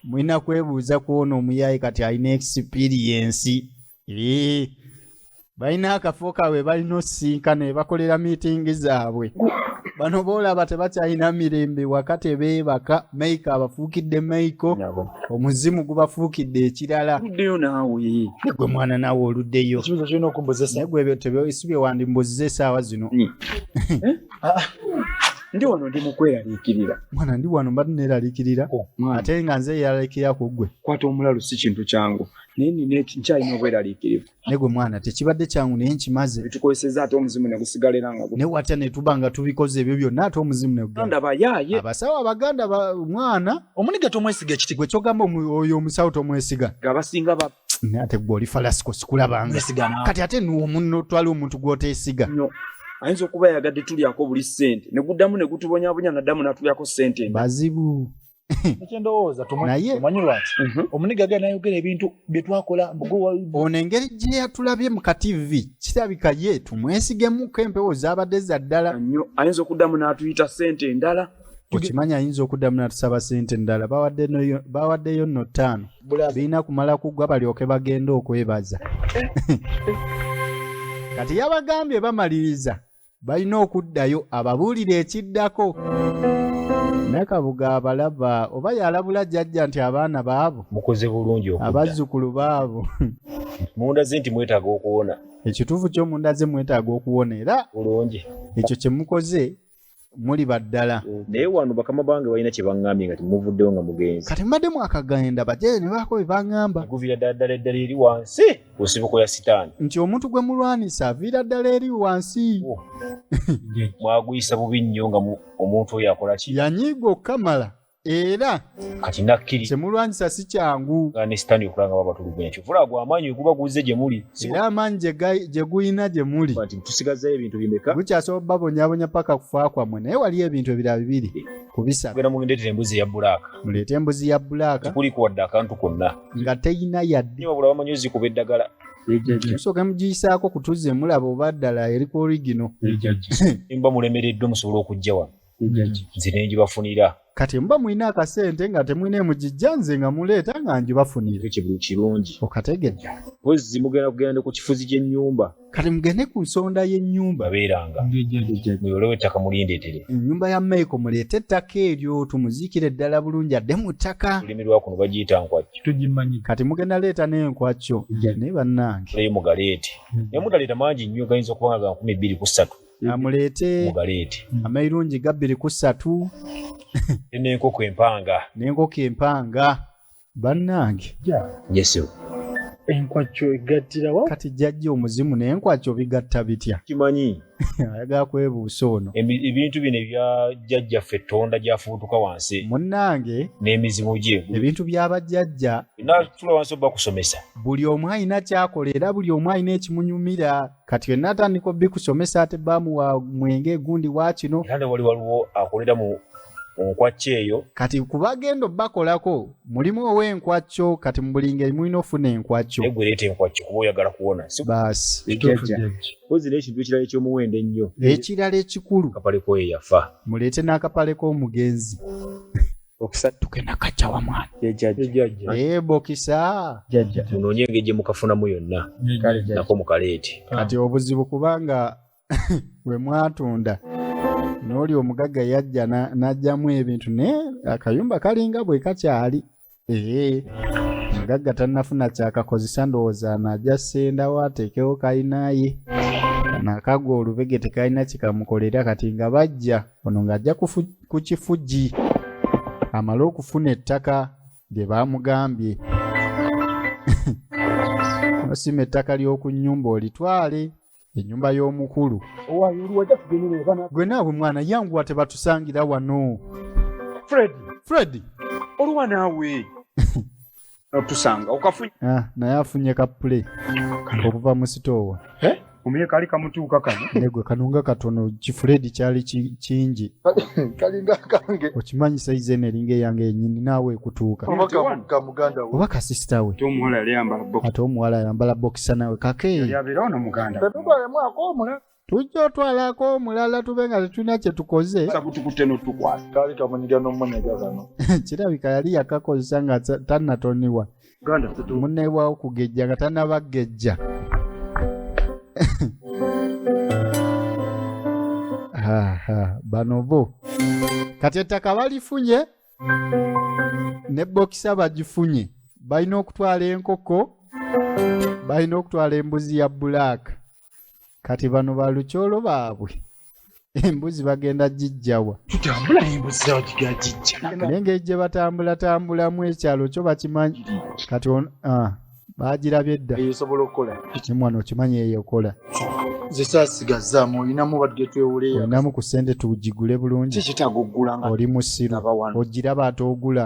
Speaker 1: mulina kwebuuza kwona omuyaye kati alina ekisipiriyensi balina akafo kaabwe balina osisinka ne bakolera miitingi zaabwe bano boolaba tebakyalina mirembe waka tebeebaka maiko abafuukidde maiko omuzimu gubafuukidde ekirala uddeyo naawe
Speaker 2: gwe mwana naawe
Speaker 1: oluddeyo ekibuzo kirina okumbuzesa
Speaker 5: gwe ebyo tebyosi bye
Speaker 1: wandimbuziza esaawa zino eh? ah, ah.
Speaker 2: ndi wano ndi mukweraliikirira mwana ndi wano mbadde
Speaker 1: neeraliikirira oh, ate nga nze eyeraliikirira ku ggwe kwata omulalu si kintu
Speaker 2: kyangu naye nina nkyalina obweraliikirivu naye gwe mwana
Speaker 1: tekibadde kyangu naye nkimaze bitukozeseza ate omuzimu
Speaker 2: ne gusigala era nga naye watya ne tuba nga
Speaker 1: tubikoze ebyo byonna ate omuzimu ne gugenda. ndaba yaaye abasawo
Speaker 2: abaganda ba-
Speaker 1: mwana omuniga tomwesiga
Speaker 5: ekiti gwe kyogamba omu- oyo
Speaker 1: omusawo tomwesiga nga abasinga ba
Speaker 2: Naye ate gwe oli falasiko
Speaker 1: sikulabanga mwesiga naawe kati ate
Speaker 5: nuomuno
Speaker 1: twali omuntu gwotesiga nnyo ayinza
Speaker 2: okuba yayagadde tulyako buli ssente ne guddamu ne gutubonyabonya naddamu natulyako ssente endala. bazibu
Speaker 1: ekyendowooza
Speaker 5: Naye- tumanyi
Speaker 1: lwaki Mhm.
Speaker 5: omuniga gana ayogera ebintu byetwakola ono engeri
Speaker 1: gye yatulabye mu ka tv kirabika ye tumwesigemuko empewo zaabadde za ddala nnyo ayinza okuddamu
Speaker 2: n'atuyita ssente endala okimanyi ayinza
Speaker 1: okuddamu natusaba sente endala bawadde noyo- bawaddeyo nno ttaano birina kumala kuggwa balyoke bagende okwebaza kati yabagambye bamaliriza balina okuddayo ababuulire ekiddako nakabuga abalaba oba yalabula jajja nti abaana baabo mukoze bulungi okudda
Speaker 3: abazzukulu baabo
Speaker 1: munda
Speaker 3: ze nti mwetaaga okuwona ekituufu kyo munda
Speaker 1: ze mwetaaga okuwona era bulungi ekyo
Speaker 3: kye mukoze
Speaker 1: muli baddala naye wano bakama
Speaker 3: bange balina kye baŋŋambye nga temuvuddewo nga mugenzi kati mbadde mwakagenda
Speaker 1: bajaye ne baako bye baŋŋamba guviira ddala ddala eddala
Speaker 3: eri wansi ku nsibuko ya sitaani nti omuntu gwe mulwanisa
Speaker 1: aviira ddala eri wansi
Speaker 3: mwaguyisa bubi nnyo nga omuntu oyo akola ki yanyiiga okukamala
Speaker 1: era kati nakkiri
Speaker 3: kyemulwanyisa si kyangu
Speaker 1: nga ne sitaani okulaba nga
Speaker 3: babatulugunya kyovula gwe amaanyi weguba guzze gye muli era amaanyi
Speaker 1: gye guyina gye muli nti tusigazzayo ebintu
Speaker 3: bimeka gukyasobola babonyabonya
Speaker 1: paka kufa kwammwe naye waliyo ebintu ebira bibiri kubisagenda mugendeetera embuzi
Speaker 3: ya bulaaka muleete embuzi ya
Speaker 1: bulaaka tekuliko wadde akantu
Speaker 3: konna nga teyina
Speaker 1: yadde nyo babula bamanyuzi kuba
Speaker 3: eddagala musooke
Speaker 1: mugiyisaako kutuze mulaba oba ddala eri ku origino muba
Speaker 3: mulemereddwa musobola okujja wano nze nengibafunira kati muba mulina
Speaker 1: akasente nga temulina emugijja nze nga muleeta nga ngibafunira kirungi
Speaker 3: okategedde
Speaker 1: wezzi mugenda
Speaker 3: kugenda ne ku kifuzi ky'ennyumba kati mugende ku
Speaker 1: nsonda y'ennyumba beeranga
Speaker 3: muyolewo ettaka mulindetere ennyumba ya maiko
Speaker 1: muleete ettaka eryo tumuziikire ddala bulungi adde mu ttaka olulimi lwa kuno bagiyita
Speaker 3: nkwakyo tugimanyi kati mugenda
Speaker 1: leeta n'enkwakyo naye bannange naye mugaleete
Speaker 3: hmm. naye mutaleeta mangi nnyo gayinza okuba nga ga nkumi bbiri ku ssatu amuleete
Speaker 1: mugaleete hmm.
Speaker 3: amairungi gabbiri
Speaker 1: ku ssatu
Speaker 3: n'enkoko empanga n'enkoko empanga
Speaker 1: bannange yesu
Speaker 3: enkwacyo
Speaker 5: egattira wa kati jjajja omuzimu
Speaker 1: n'enkwacyo bigatta bitya kimanyi
Speaker 3: ayagala
Speaker 1: kwebuusa ono Ebi- ebintu bino ebya
Speaker 3: jjajjaffe tonda gyafubutuka wansi munnange
Speaker 1: n'emizimu gye
Speaker 3: ebintu bya bajjajja
Speaker 1: natula wansi
Speaker 3: oba kusomesa buli omu alina
Speaker 1: kyakola era buli omu alina ekimunyumira kati bye natandika obikusomesa ate baamu wa mwenge gundi wakino era ne wali waliwo
Speaker 3: akolera mu nkwakkyo eyo kati kubagenda
Speaker 1: obakolako mulimu ow'enkwakyo kati mu buli ngeri mulina ofuna enkwakyo egwe leeta enkwakyo kuba
Speaker 3: oyagala kuwona si baasi Kituufu
Speaker 1: jjajja. jjajja. Mpozi
Speaker 3: n'ekintu ekirala eky'omuwendo ennyo ekirala ekikulu
Speaker 1: kapale koyo yafa
Speaker 3: muleete n'akapale
Speaker 1: k'omugenzi bokisa tuke na kacha wa mwana ye jaji jaji eh bokisa jaji munonye ngeje
Speaker 3: mukafuna mu yonna nako mukaleti kati obuzibu
Speaker 1: kubanga we mwatunda noli omugaga yajja najjamu na ebintu ne akayumba kalinga bwe kakyali eh mugaga tanafuna kyakakozesa ndowooza naja sendawo atekewo kalinaye nakagwa olubege tekalina kikamukolera kati nga bajja Ono ng'ajja ku kifugi amale okufuna ettaka lye baamugambye nosima ettaka ly'oku nnyumba olitwale ennyumba y'omukulu gwe naawe mwana yanguwa tebatusangira wano fredi fredi oluwa
Speaker 2: naawe otusanga okafunye ah, naye afunye
Speaker 1: ka play okuva mu sitoowa eh? omuye kali
Speaker 2: kamutuuka kano negwe kanunga katono
Speaker 1: kifuledi kyali kingi kalinga
Speaker 5: kange okimanyi saizi eno
Speaker 1: eringa eyange yenyini naawe ekutuuka
Speaker 5: oba kasisita we
Speaker 2: ate omuwala ayambala
Speaker 1: bokisa nawe kakeeyi
Speaker 5: tujja otwalako
Speaker 1: omulala tube nga tetulina kye tukoze sakutukutte notukwasa
Speaker 2: kaali kamunyiga
Speaker 5: nomunyiga kano kirabika yali
Speaker 1: yakakozesa nga tannatoniwa
Speaker 2: munneebwawo
Speaker 1: kugejja nga tannabagejja bano bo kati ettaka balifunye ne bokisa bagifunye balina okutwala enkoko balina okutwala embuzi ya bulaaka kati bano balukyolo baabwe embuzi bagenda gijjawa tutambula embuzi
Speaker 5: zawa giga gijja naye ngeri gye
Speaker 1: batambulatambulamu ekyalo kyo bakimanyi kati on ah, bagirabye dda eyo osobola okukola
Speaker 5: kimwana okimanyi
Speaker 1: eyo ekola nze
Speaker 5: sasigazaamu olinamu badde twewuleyo olinamu ku ssente
Speaker 1: tugigule bulungi kikitaga okugula nga oli
Speaker 5: musiru abawano
Speaker 1: ogiraba ate ogula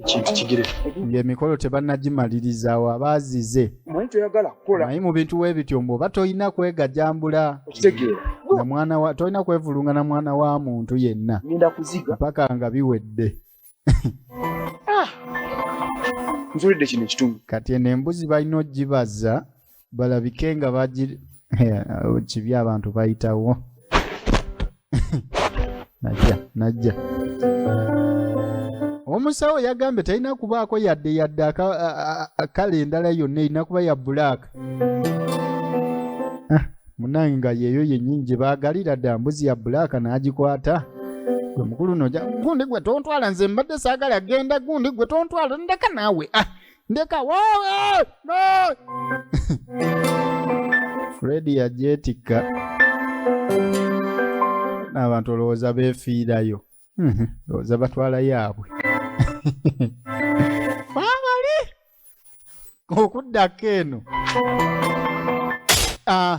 Speaker 1: ekintu kigire
Speaker 5: ng'emikolo
Speaker 1: tebannagimaliriza wa baazize manyi toyagala
Speaker 2: kukola naye mu bintu we bityo
Speaker 1: mbu oba tolina kwegajambula okitegeera na
Speaker 2: mwana wa tolina kwevulunga
Speaker 1: na mwana wa muntu yenna ngenda kuziga mpaka
Speaker 2: nga biwedde nzulidde kino ekitundu kati eno embuzi
Speaker 1: balina ogibaza balabike nga bagi kibi abantu bayitawo najja najja omusawo yagambye talina kubaako yadde yadde kale endala yonna erina kuba ya bulaaka ah, munange nga yeeyo yennyini gye baagalira dda mbuzi ya bulaaka n'agikwata gwe mukulu noja gundi gwe tontwala nze mbadde saagala genda gundi gwe tontwala ndeka naawe ah, ndeka wewe no! fredi yajeetikka n'abantu olowooza beefiirayo Mhm, olowooza batwala yaabwe baabali okuddako eno Ah,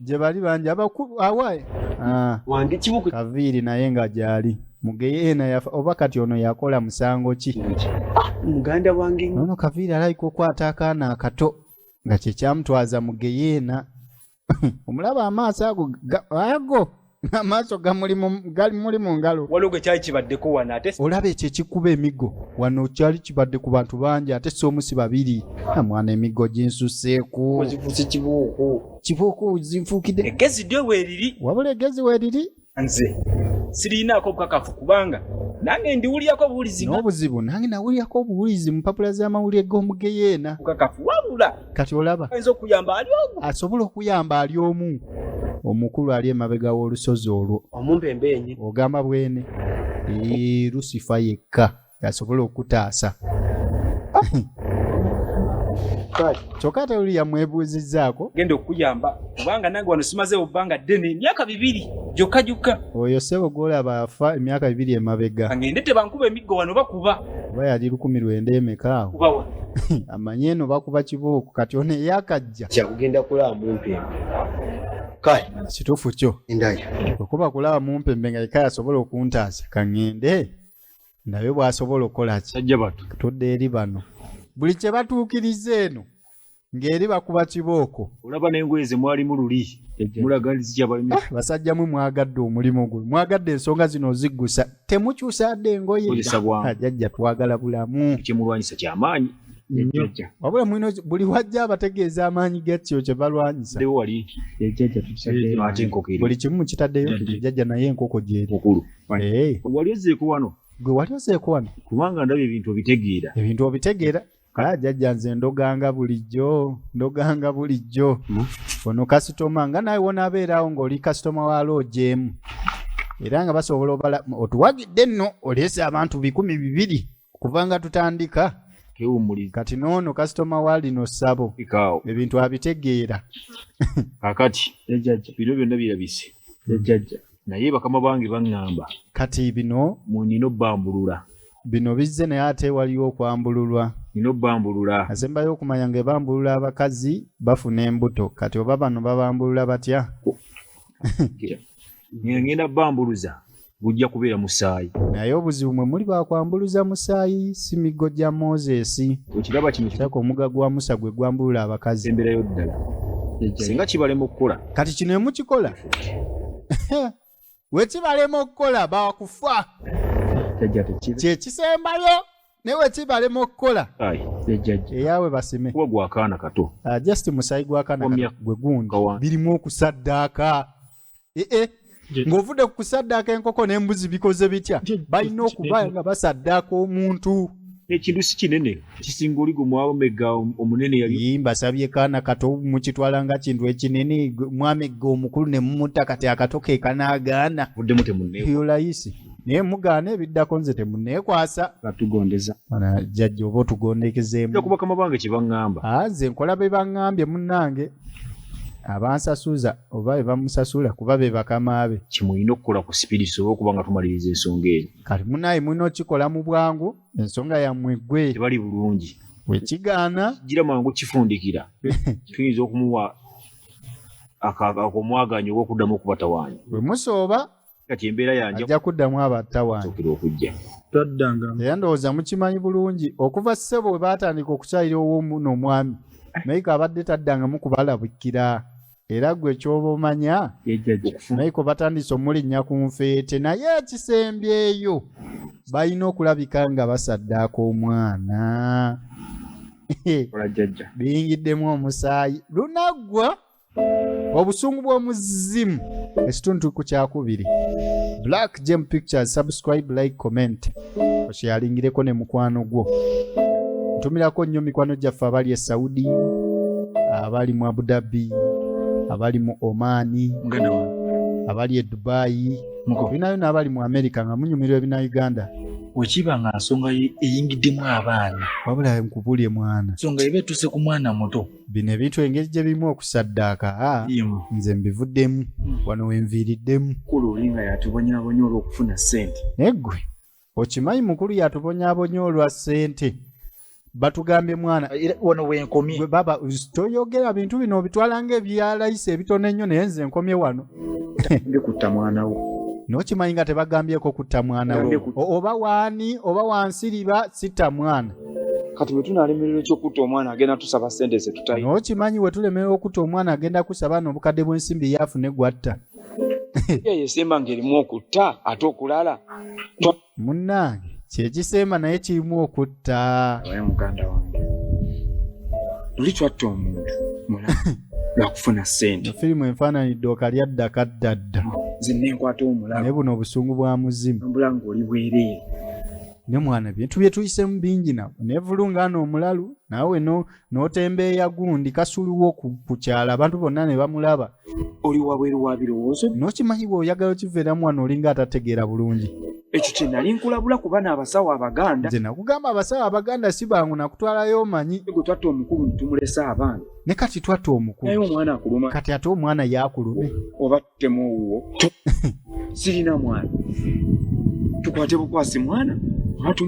Speaker 1: gye bali
Speaker 6: bangi
Speaker 1: abakulu awaaye Ah, wange
Speaker 6: kimu ku kaviiri naye nga
Speaker 1: gyali mugeyeena yafa oba kati ono yakola musango ki Ah, muganda
Speaker 6: wange nnyo. nono kaviiri alabika
Speaker 1: okwata akaana akato nga kyekyamutwaza mugeyeena omulaba amaaso ago ga- ago amaaso gamuli mu ngalo waliwo gwe kyali kibaddeko
Speaker 6: wano ate olaba ekyo ekikuba
Speaker 1: emigo wano kyali kibadde ku bantu bangi ate si omu si babiri amwana emigo ginsuseeku ozifuuse kibuuku
Speaker 6: kibuuku
Speaker 1: zinfuukidde egezi dyo weeriri
Speaker 6: wabula egezi weeriri
Speaker 1: nze
Speaker 6: sirinaako obukakafu kubanga nange ndiwulirako obuwulizi n'obuzibu nange
Speaker 1: nawulirako obuwulizi mu mpapula z'amawulire g'omugeyeena bukakafu wabula
Speaker 6: kati olaba asobola okuyamba ali
Speaker 1: omu omukulu ali emabega w'olusozi olwo ogamba
Speaker 6: bwene
Speaker 1: lusifa yekka asobola okutaasa kyokka ate oli yamwebuuzizzaako genda okuyamba
Speaker 6: kubanga nange wano simazeewo bbanga ddene emyaka bibiri gyokka gyokka oyo ssebo gwolaba
Speaker 1: afa emyaka bibiri emabega ngende tebankuba emiggo
Speaker 6: wano bakuba oba yali lukumi
Speaker 1: lwenda emeka awo
Speaker 6: amanye eno
Speaker 1: bakuba kibuuku kati ono eyakajja kyakugenda kulaba
Speaker 6: mumpembe kale kituufu kyo
Speaker 1: endayo okuba
Speaker 6: kulaba mumpembe
Speaker 1: nga yeka yasobola okuntaasa kaŋŋende ndabe bw'asobola okukola ki sajja batu tudde eri
Speaker 3: bano
Speaker 1: buli kye batuukiriza eno ng'eri bakuba kibooko olaba n'engoye ze
Speaker 3: mwalimu luli mulaga zikyabalimu Eh, basajja mwe mwagadde
Speaker 1: omulimu guno mwagadde ensonga zino oziggusa temukyusadde engoye Kozesa bwangu. Ah, jajja twagala bulamu kyemulwanyisa kyamaanyi
Speaker 3: Jajja. wabula mulina oki- buli
Speaker 1: wajja abategeeza amaanyi gakyo kye balwanyisa dewo wali
Speaker 3: Jajja tukisadde.
Speaker 1: ate enkoko
Speaker 3: eri buli kimu mukitaddeyo
Speaker 1: Jajja. jajja naye enkoko gyeri mukulu Eh,
Speaker 3: wali
Speaker 1: ozzeeko wano
Speaker 3: gwe wali ozeeko wano
Speaker 1: kubanga ndaba ebintu
Speaker 3: obitegeera ebintu obitegeera
Speaker 1: Ah, jajja nze ndoganga bulijjo ndoganga bulijjo hmm? ono kasitoma nga nawe wonabeerawo ngaoli kasitoma wa loogi emu era nga basobola obala otuwagidde nno oleese abantu bikumi bibiri kuva nga tutandika kewumuli kati noono kasitoma wa lino ssabo ebintu abitegeera kakati
Speaker 3: ejajja bino byonna birabise ejajja naye bakama bange baŋŋamba kati bino
Speaker 1: munina obbambulula bino bizze naye ate waliwo okwambululwa nina
Speaker 3: obambulula asembayo okumanya nga
Speaker 1: ebambulula abakazi bafuna embuto kati oba bano babambulula batya
Speaker 3: ngenda bambuluza gujja kubeera musaayi naye obuzibu mwe
Speaker 1: muli bakwambuluza musaayi si miggo gya moses ekiraba kino saka
Speaker 3: omuga gwa musa
Speaker 1: gwe gwambulula abakazi emberayo ddala
Speaker 3: singa kibalema okukola kati kino emukikola
Speaker 1: wekibalema okukola bakufa kyekisembayo naye wekibalema okukola eyawe basime gwakaana kato
Speaker 3: ah, just musayi
Speaker 1: gwakaana gwe gundi birimu okusaddaaka ee eh, eh. ng'ovudde ku kusaddaaka enkoko n'embuzi bikoze bitya balina okuba nga basaddaaka omuntu ekintu si kinene
Speaker 3: kisinga oli gwe mwaba megga omunene yali yii mbasabye kaana kato
Speaker 1: mukitwala nga kintu ekinene gwe- mwamegga omukulu ne mumutta kati akato ke kanaagaana buddemu temunne
Speaker 3: yolayisi
Speaker 1: naye mugaana ebiddako nze temuneekwasa batugondeza
Speaker 3: Bana jjajja
Speaker 1: oba otugondekezeemu nja kubakama bange kye
Speaker 3: baŋŋamba Ah, nze nkola be
Speaker 1: baŋŋambye munnange abansasuza oba be bamusasula kuba be bakama be kye mulina okukola ku sipidi
Speaker 3: tusobole okuba nga tumaliriza ensonga eyo kale munaye mulina
Speaker 1: okikola mu bwangu ensonga yammwe gwe tebali bulungi
Speaker 3: wekigaana
Speaker 1: kijira mangu
Speaker 3: kifundikira tuyinza okumuwa akomwaganya oba okuddamu okubatawaanya bwe musooba
Speaker 1: kati embeera yanja
Speaker 3: ajja kuddamu
Speaker 1: abattawaanyokera okujja
Speaker 3: taddanga era
Speaker 5: ndowooza mukimanyi
Speaker 1: bulungi okuva ssebo we baatandika okukyayira owoomuno omwami naye kaabadde taddangamu kubalabikira era gwe kyoba omanya naiko batandise omulinnya ku nfeete naye ekisembyeyo balina okulabika nga basaddaaka omwana biyingiddemu omusaayi lunaggwa obusungu bw'omuzimu ekitundu ku kyakubiri black gem pictures subscribe like comment okyeyalingireko ne mukwano gwo ntumirako nnyo mikwano gyaffe abali e saudi abali mu abudabi abali mu omaani abali e dubayi binayo naabali mu amerika nga munyumirwa ebina uganda wekiba nga
Speaker 5: nsonga eyingiddemu abaana wabula nkubulye
Speaker 1: mwana nsonga eba etuuse ku
Speaker 5: mwana muto bino ebintu engeri
Speaker 1: gye birimu okusaddaaka a Yemu. nze mbivuddemu wano we nviiriddemu mukulu oli nga
Speaker 2: yatubonyabonya olw'okufuna ssente naye ggwe
Speaker 1: okimanyi mukulu yatubonyabonya olwa ssente batugambye mwana era wano wenkomye
Speaker 5: gwe baba us-
Speaker 1: toyogera bintu bino obitwala ng'ebya layisi ebitono ennyo naye nze nkomye wano ndi kutta
Speaker 2: mwana wo nokimanyi nga
Speaker 1: tebagambyeko kutta mwana wo Yande kutta. O- oba waani oba wansiriba sitta mwana kati bwe
Speaker 2: tunalemerera ekyokutta omwana agenda tusaba sente zetutayi nokimanyi we tulemerera
Speaker 1: okutta omwana agenda kusaba no obukadde bw'ensimbi yaafuna eggwatta
Speaker 2: yeyesemba ng'erimu okutta ate okulala
Speaker 1: munnange kyekisemba naye kirimu okutta oye muganda wange
Speaker 2: luli twatta omuntu mula lwakufuna sente firimu enfaananyi ddooka
Speaker 1: lyadda kaddadda nze nenkwata
Speaker 2: omulalo naye buno obusungu bwa
Speaker 1: muzimu mbula ng'oli bwereere
Speaker 2: ne mwana
Speaker 1: bintu bye tuyisemu bingi na nevulunga no omulalu nawe no notembeeya gundi kasuluwo ku, kukyala abantu bonna ne bamulaba oli wabweru
Speaker 2: wa birowoozo nokimanyi bwe oyagala
Speaker 1: okivera mwana olinga atategeera bulungi ekyo kye nali
Speaker 2: nkulabula kuba n'abasawo abaganda nze nakugamba abasawo
Speaker 1: abaganda si bangu nakutwalayo omanyi gwe twatta omukulu ne
Speaker 2: tumulesa abaana ne kati twatta
Speaker 1: omukulu naye omwana akuluma kati
Speaker 2: ate omwana
Speaker 1: yaakulume oba temu
Speaker 2: owuwo sirina mwana tukwate bukwasi mwana kati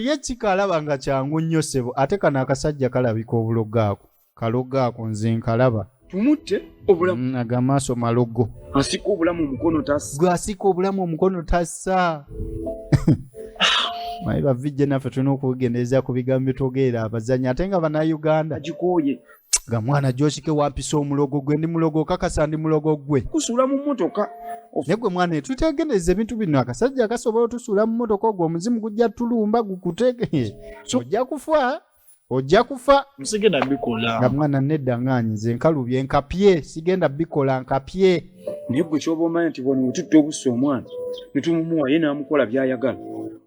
Speaker 2: ye
Speaker 1: kika alaba nga kyangu nnyo sebo ate kano akasajja kalabika obulogo ako kalogo ako nze nkalaba tumutte
Speaker 2: obulamu mm, aga maaso malogo
Speaker 1: asika obulamu
Speaker 2: omukono tasa gwe asika obulamu
Speaker 1: omukono tasa maye bavijje naffe tulina okugendereza ku bigambo bitogeera abazanyi ate nga banauganda agikooye
Speaker 2: nga mwana
Speaker 1: josike wampisa omulogo gwe ndi mulogo okakasa ndi mulogo gwe kusuula mu mmotoka
Speaker 2: naye gwe mwana
Speaker 1: tutegendereza ebintu bino akasajja kasobola otusuula mu mmotoka ogwo omuzimu gujja tulumba gukutege ojja kufa ojja kufa sigenda bikola
Speaker 5: nga mwana nedda nga
Speaker 1: nze nkalubye nkapye sigenda bikola nkapye naye gwe kyoba
Speaker 2: omanya nti bwano wetutta obusa omwana netumuwa ye namukola byayagala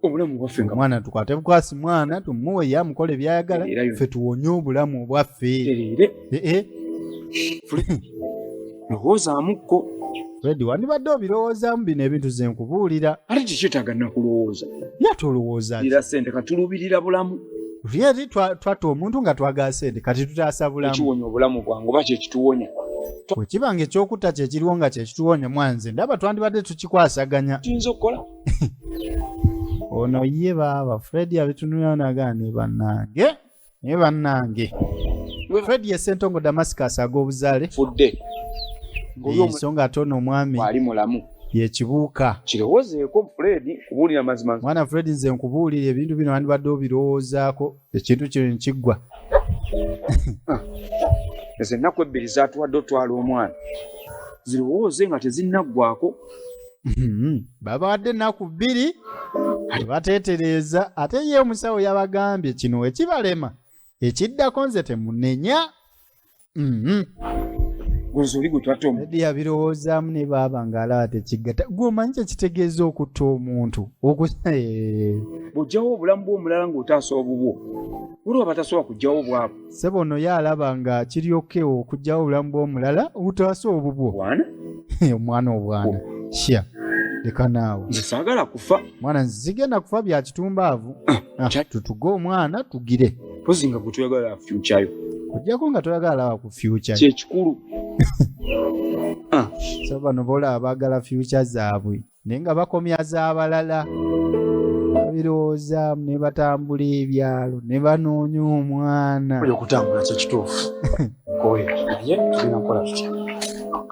Speaker 2: obulamu bwaffe nga mwana tukwate bukwasi
Speaker 1: mwana tumuwe ye amukole byayagala fe tuwonye obulamu bwaffe
Speaker 2: lowoozaamuko redi
Speaker 1: wandibadde obirowoozaamu bino ebintu ze nkubuulira ate kikyetaaga
Speaker 2: nakulowooza ya tolowooza
Speaker 1: ira sente
Speaker 2: katulubirira bulamu redi
Speaker 1: twatta omuntu nga twagala sente kati tutaasa bulamu ekiwonya obulamu bwange oba
Speaker 2: kyekituwonya bwe kiba nga
Speaker 1: ekyokutta kye kiriwo nga kye kituwoonye mwanze ndaba twandibadde tukikwasaganya tuyinza okukola ono ye baaba fred abitunulira nagaa ne bannange naye bannange fred ye sentongo damascus ag'obuzaale fudde ensonga ate ono omwami ali mulamu
Speaker 2: yekibuuka
Speaker 1: kirowozeeko
Speaker 2: fred kubuulira mazima mwana fred nze
Speaker 1: nkubuulira ebintu bino wandibadde obirowoozaako ekintu kino nekiggwa
Speaker 2: ah. ezo ennaku ebbiri zatuwadde otwala omwana zirowooze nga tezinnaggwako hmm.
Speaker 1: babawadde ennaku bbiri bateetereeza ate ye omusawo yabagambye kino wekibalema ekiddako nze temunenya Mhm.
Speaker 2: Guzo oli gwe twatta omu. Teddy yabirowoozaamu
Speaker 1: ne baaba ng'alaba tekiggata gwe omanyi kye kitegeeza okutta omuntu Oku- Eh,
Speaker 2: Bw'oggyawo obulamu bw'omulala ng'otaasa obubwo. Waliwo abatasobola kuggyawo obwabwe. ssebo ono ye alaba
Speaker 1: nga kiri okewo okugyawo obulamu bw'omulala obutaasa obubwo Bwana,
Speaker 2: omwana
Speaker 1: obwana shya leka naawe nze saagala kufa.
Speaker 2: mwana nzigenda
Speaker 1: kufa bya kitumbaavu Ah, tutuge omwana tugire mpozi nga gwetuyagala
Speaker 2: fyukyayo ojjako nga toyagala
Speaker 1: laba ku fyukya kyekikulu so bano boolaba baagala fyukya zaabwe naye nga bakomya z'abalala babirowoozamu ne batambula ebyalo ne banoonya omwana oyo okutambula kyekituufu
Speaker 5: oyo naye tulina kukola tutya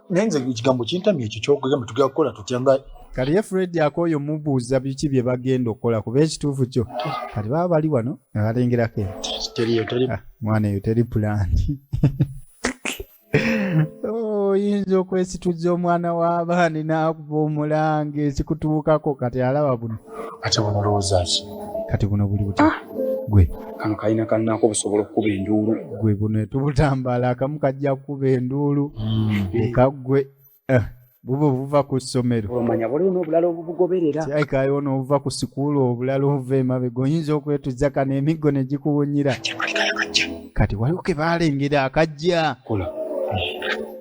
Speaker 5: naye nze ekigambo kintamya ekyo kyokugamba tugenda kukola tutya nga kati ye fred
Speaker 1: akooyo mubuuza biki bye bagenda okukola kuba ekituufu kyo kati baba bali wano nga balengerako eyo teriyo teri Ah, mwana eyo teri pulaani Oh, oyinza okwesituza omwana w'abaani n'akuba omulanga ekikutuukako kati alaba buno ate buno olowooza
Speaker 5: ki kati buno buli buti
Speaker 1: gwe kano kalina
Speaker 2: kannaako busobola okukuba enduulu gwe buno
Speaker 1: etubutambaala akamu kajja kukuba enduulu eka gwe eh, buba obuva ku ssomero omanya waliwo n'obulala
Speaker 2: obubugoberera kirabika waliwo n'obuva
Speaker 1: ku sikuulu obulala obuva emabega oyinza okwetuzza kano emiggo ne gikuwunyira kati waliwo ke baalengera akajja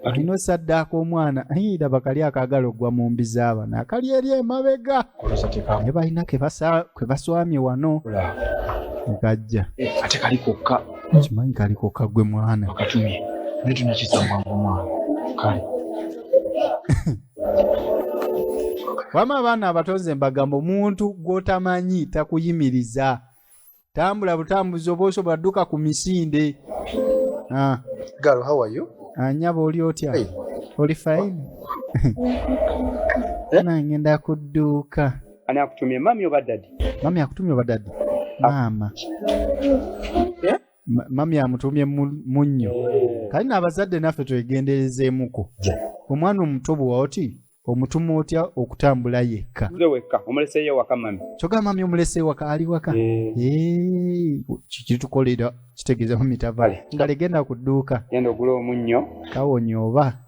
Speaker 1: alina osaddaaka omwana ayira bakali akaagala okugwa mu mbi z'abana akali eri emabega naye balina ke baswamye wano kajja eh, ate kali
Speaker 2: kokka Hmm. Kimanyi kali kokka
Speaker 1: ggwe mwana. Akatumi. Naye
Speaker 5: tunakisa mwangu mwana. Kale.
Speaker 1: Wama abaana abato nze mbagamba omuntu gw'otamanyi takuyimiriza. Tambula butambuzi oba osobola dduka ku misinde. Ah.
Speaker 5: Girl, how are you? Anyabo ah, oli otya?
Speaker 1: Hey. Oli fine? Eh? Nangenda kudduuka. Ani akutumye
Speaker 2: mami oba dadi? Mami akutumye oba
Speaker 1: dadi? Ah. Maama. Eh? Mami amutumye munnyo. Eh. Kali n'abazadde naffe twegenderezeemuko. Omwana omuto bw'owa oti omutuma otya okutambula yekka. Nze wekka omuleseeyo
Speaker 2: ewaka mami. Kyogamba mami omuleseeyo
Speaker 1: ewaka ali waka? Eh. Kitukolera kitegeeza mami tava. Ngale genda ku dduuka. Genda ogula omunnyo.
Speaker 2: Kawonye oba.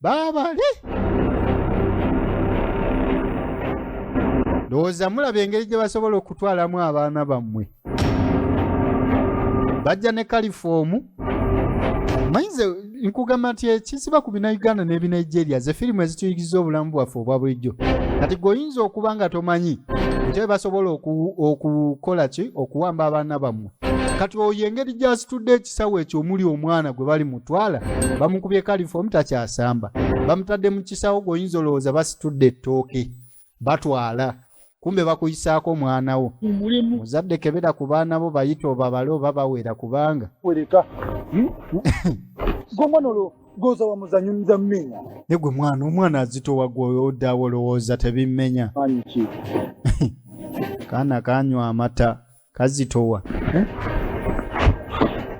Speaker 1: baabale ndowooza mulaba engeri gye basobola okutwalamu abaana bammwe bajja ne kalifoomu manyize nkugamba nti ekisiba ku binauganda n'ebinigeria ze firimu ezituyigiriza obulamu bwaffe obwa bulijjo kati gweoyinza okuba nga tomanyi nti basobola okukola ki okuwamba abaana bammwe kati oyo engeri gy'asitudde ekisawo ekyo omuli omwana gwe bali mutwala bamukubye kalifoomu takyasamba bamutadde mu kisawo gweoyinza olowooza basitudde ettooke batwala kumbe bakuyisaako omwana wo muzadde kebera ku baana bo bayita obabale oba bawera kubanga wereka
Speaker 5: hmm? gomwana olwo goza wamuzanyo nza mmenya ne gwe mwana
Speaker 1: omwana azitowa gweodaawo olowooza tebimmenya kaana kanywa amata kazitowa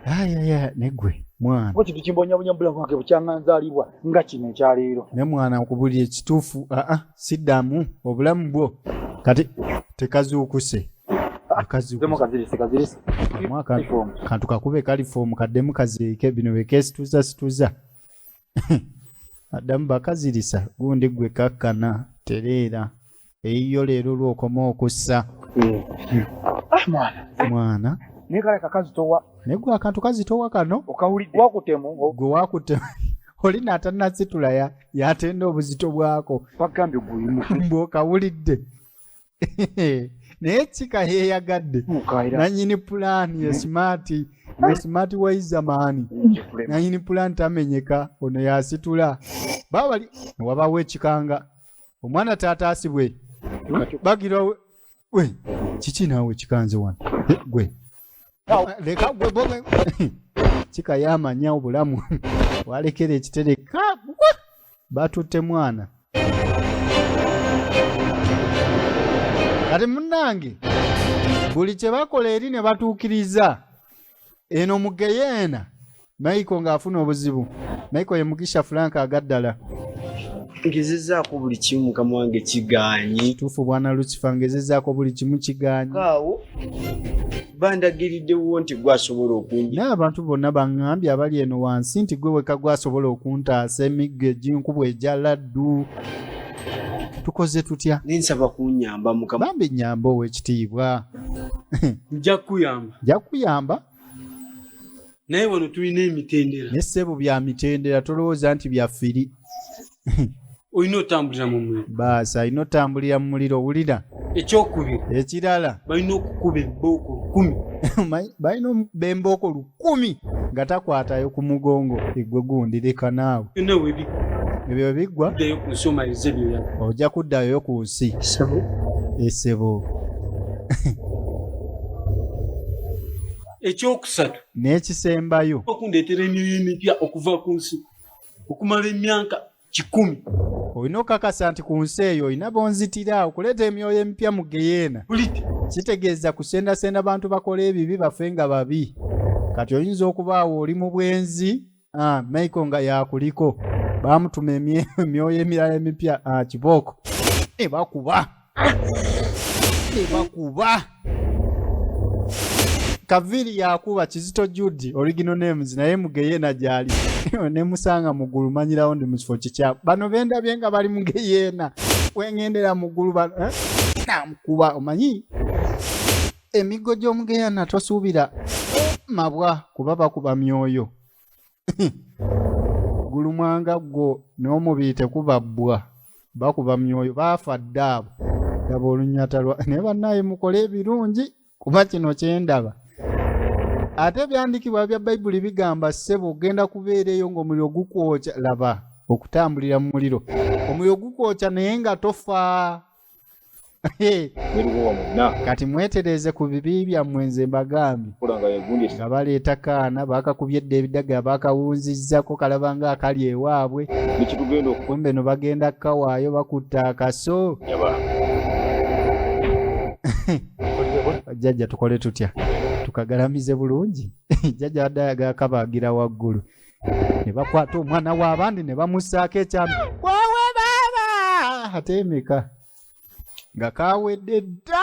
Speaker 1: ayaya eh? negwe mwana ko kintu kimbonyabonya bulamu
Speaker 5: bwange bukyanganzaalibwa nga kino ekyaleero ne mwana nkubulira
Speaker 1: ekituufu aa ah, ah, siddamu obulamu bwo kati tekazuukuse kantu kakube kalifoomu kaddemu kaziike bino bekesituza situza addamu bakazirisa gundi gwe kakkana tereera eyiyo leero lwokoma okussa ah, mwana naye kale kakazi
Speaker 5: towa naye gwe akantu kazi
Speaker 1: towa kano okawulidde wakutemu
Speaker 5: gwe wakutemu
Speaker 1: oli natanasitula yatenda obuzito bwako
Speaker 5: bagambye
Speaker 1: guyimubwokawulidde naye kika yeyagadde nanyini pulaani ye simaati ye simaati waiza maani nanyini pulaani tamenyeka ono yasitula babali wabawo ekikanga omwana taata asibwe bagira we- we kiki naawe kikanze wano Eh, gwe leka gwe bobe kika yamanya obulamu walekera ekitereka batutte mwana kati munnange buli kye bakola eri ne batuukiriza eno mu geyeena mayiko ng'afuna obuzibu mayiko ye mugisha frank agaddala
Speaker 7: ngezezaako buli kimu mukama wange kigaanyi tuufu bwana lucifer
Speaker 1: ngezezaako buli kimu kigaanyi awo
Speaker 7: bandagiriddewo nti gwasobola okungi naye abantu bonna baŋŋambye
Speaker 1: abali eno wansi nti gwe weka gwasobola okuntaasa emiggo eginkubwa egya laddu tukoze tutya nensaba kunyamba
Speaker 7: mukama bambi nyamba
Speaker 1: ow'ekitiibwa
Speaker 6: nja kukuyamba nja kukuyamba naye wano tulina emitendera ne ssebo bya
Speaker 1: mitendera tolowooza nti bya firi
Speaker 6: olina otambulira mu muliro baasi alina otambulira
Speaker 1: mu muliro owulira ekyokubiri
Speaker 6: ekirala
Speaker 1: balina okukuba
Speaker 6: ebbooko lukumi Omanyi- balina omu- bembooko
Speaker 1: lukumi nga takwatayo ku mugongo egwe gundi leka naawe byonna webiddayo
Speaker 6: ebyo bwe biggwa
Speaker 1: ku nsi omalize
Speaker 6: byoyaba ojja kuddayo ku
Speaker 1: nsi sabo esebo
Speaker 6: ekyokusatu n'ekisembayo
Speaker 1: okundeetera emyoyo
Speaker 6: emipya okuva ku nsi okumala emyaka kikumi olina
Speaker 1: okukakasa nti ku nsi eyo olina bonzitira okuleeta emyoyo emipya mu geyeena kitegeeza kusendasenda bantu bakola ebibi bafe nga babi kati oyinza okubaawo oli mu bwenzi ah, maiko nga yakuliko bamutuma emyoyo emirala emipya ah, kibooko ebakuba ebakuba kaviri yakuba kizito judi original names naye mugeyena gyali nemusanga mugulu manyirawo ndi mukifo kikyaku bano bendabye nga bali mugeyena wengendera mugulu eh? namukuba omanyi emiggo gy'omu geyana tosuubira mabwa kuba bakuba myoyo gulumwanga gwo n'omubiri tekuba bbwa bakuba myoyo baafa dda abo daba olunyata lwa naye bannaaye mukole ebirungi kuba kino kyendaba ate ebyandikibwa bya bayibuli bigamba ssebo ogenda kubeera eyo ng'omuliro gukwokya laba okutambulira mu muliro omuliro gukwokya naye nga tofa kati mwetereeze ku bibi byammwe nze mbagambye nga baleeta kaana baakakubye dda ebidaga baakawunzizzako kalaba nga akali ewaabwe kumbe no bagenda kukawaayo bakutta akaso jjajja tukole tutya tukagalamize bulungi jjajja adde ayagala kabagira waggulu ne bakwata omwana w'abandi ne bamussaako ekyama wawe baaba ate emeka nga kawedde dda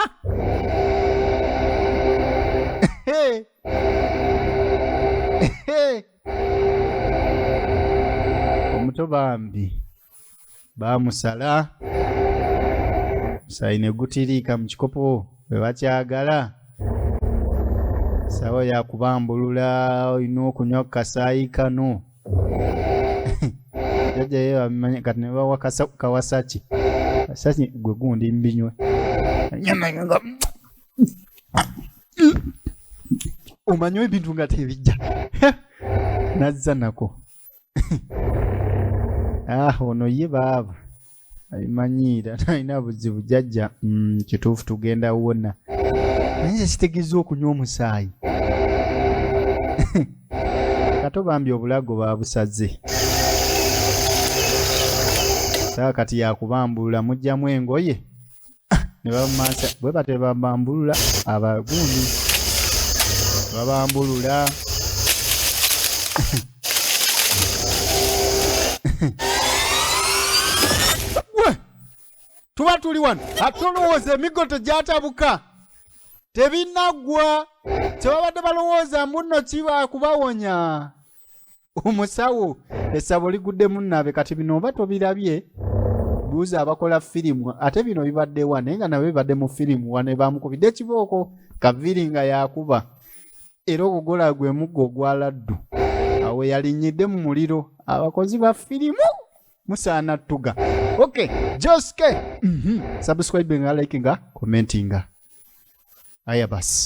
Speaker 1: omuto bambi bamusala omusaayi ne gutiriika mu kikopo bwe bakyagala sawa yakubambulula olina okunywa ku kasaayi kano jajja ye bamanya kati ne bawa kasa- kawasaki kasaki gwe gundi mbinywe Nyamanya nga- omanyi ebintu nga tebijja nazza nako ah ono ye baaba abimanyiira nalina buzibu jajja mm, kituufu tugenda wona naye nze kitegeeza okunywa omusaayi kato bambi obulago babusaze sawa kati yakubambulula mujjamu engoye ne bamansa bwe batyo bambambulula abagundi babambulula tuba tuli wano ate olowooza emiggo tegyatabuka tebinaggwa kyebabadde balowooza mbuno kiba kubawonya omusawo essabo liguddemu naabe kati bino oba tobirabye buuza abakola firimu ate bino bibadde wa naye nga nabyo bibadde mu firimu wa nebamukubidde ekibooko kaviri nga yakuba era ogugola gwe muggo ogwa laddu awo yalinyidde mu muliro abakozi ba firimu musaana tuga ok joske mm -hmm. subscribe nga likinga commentinga aya basi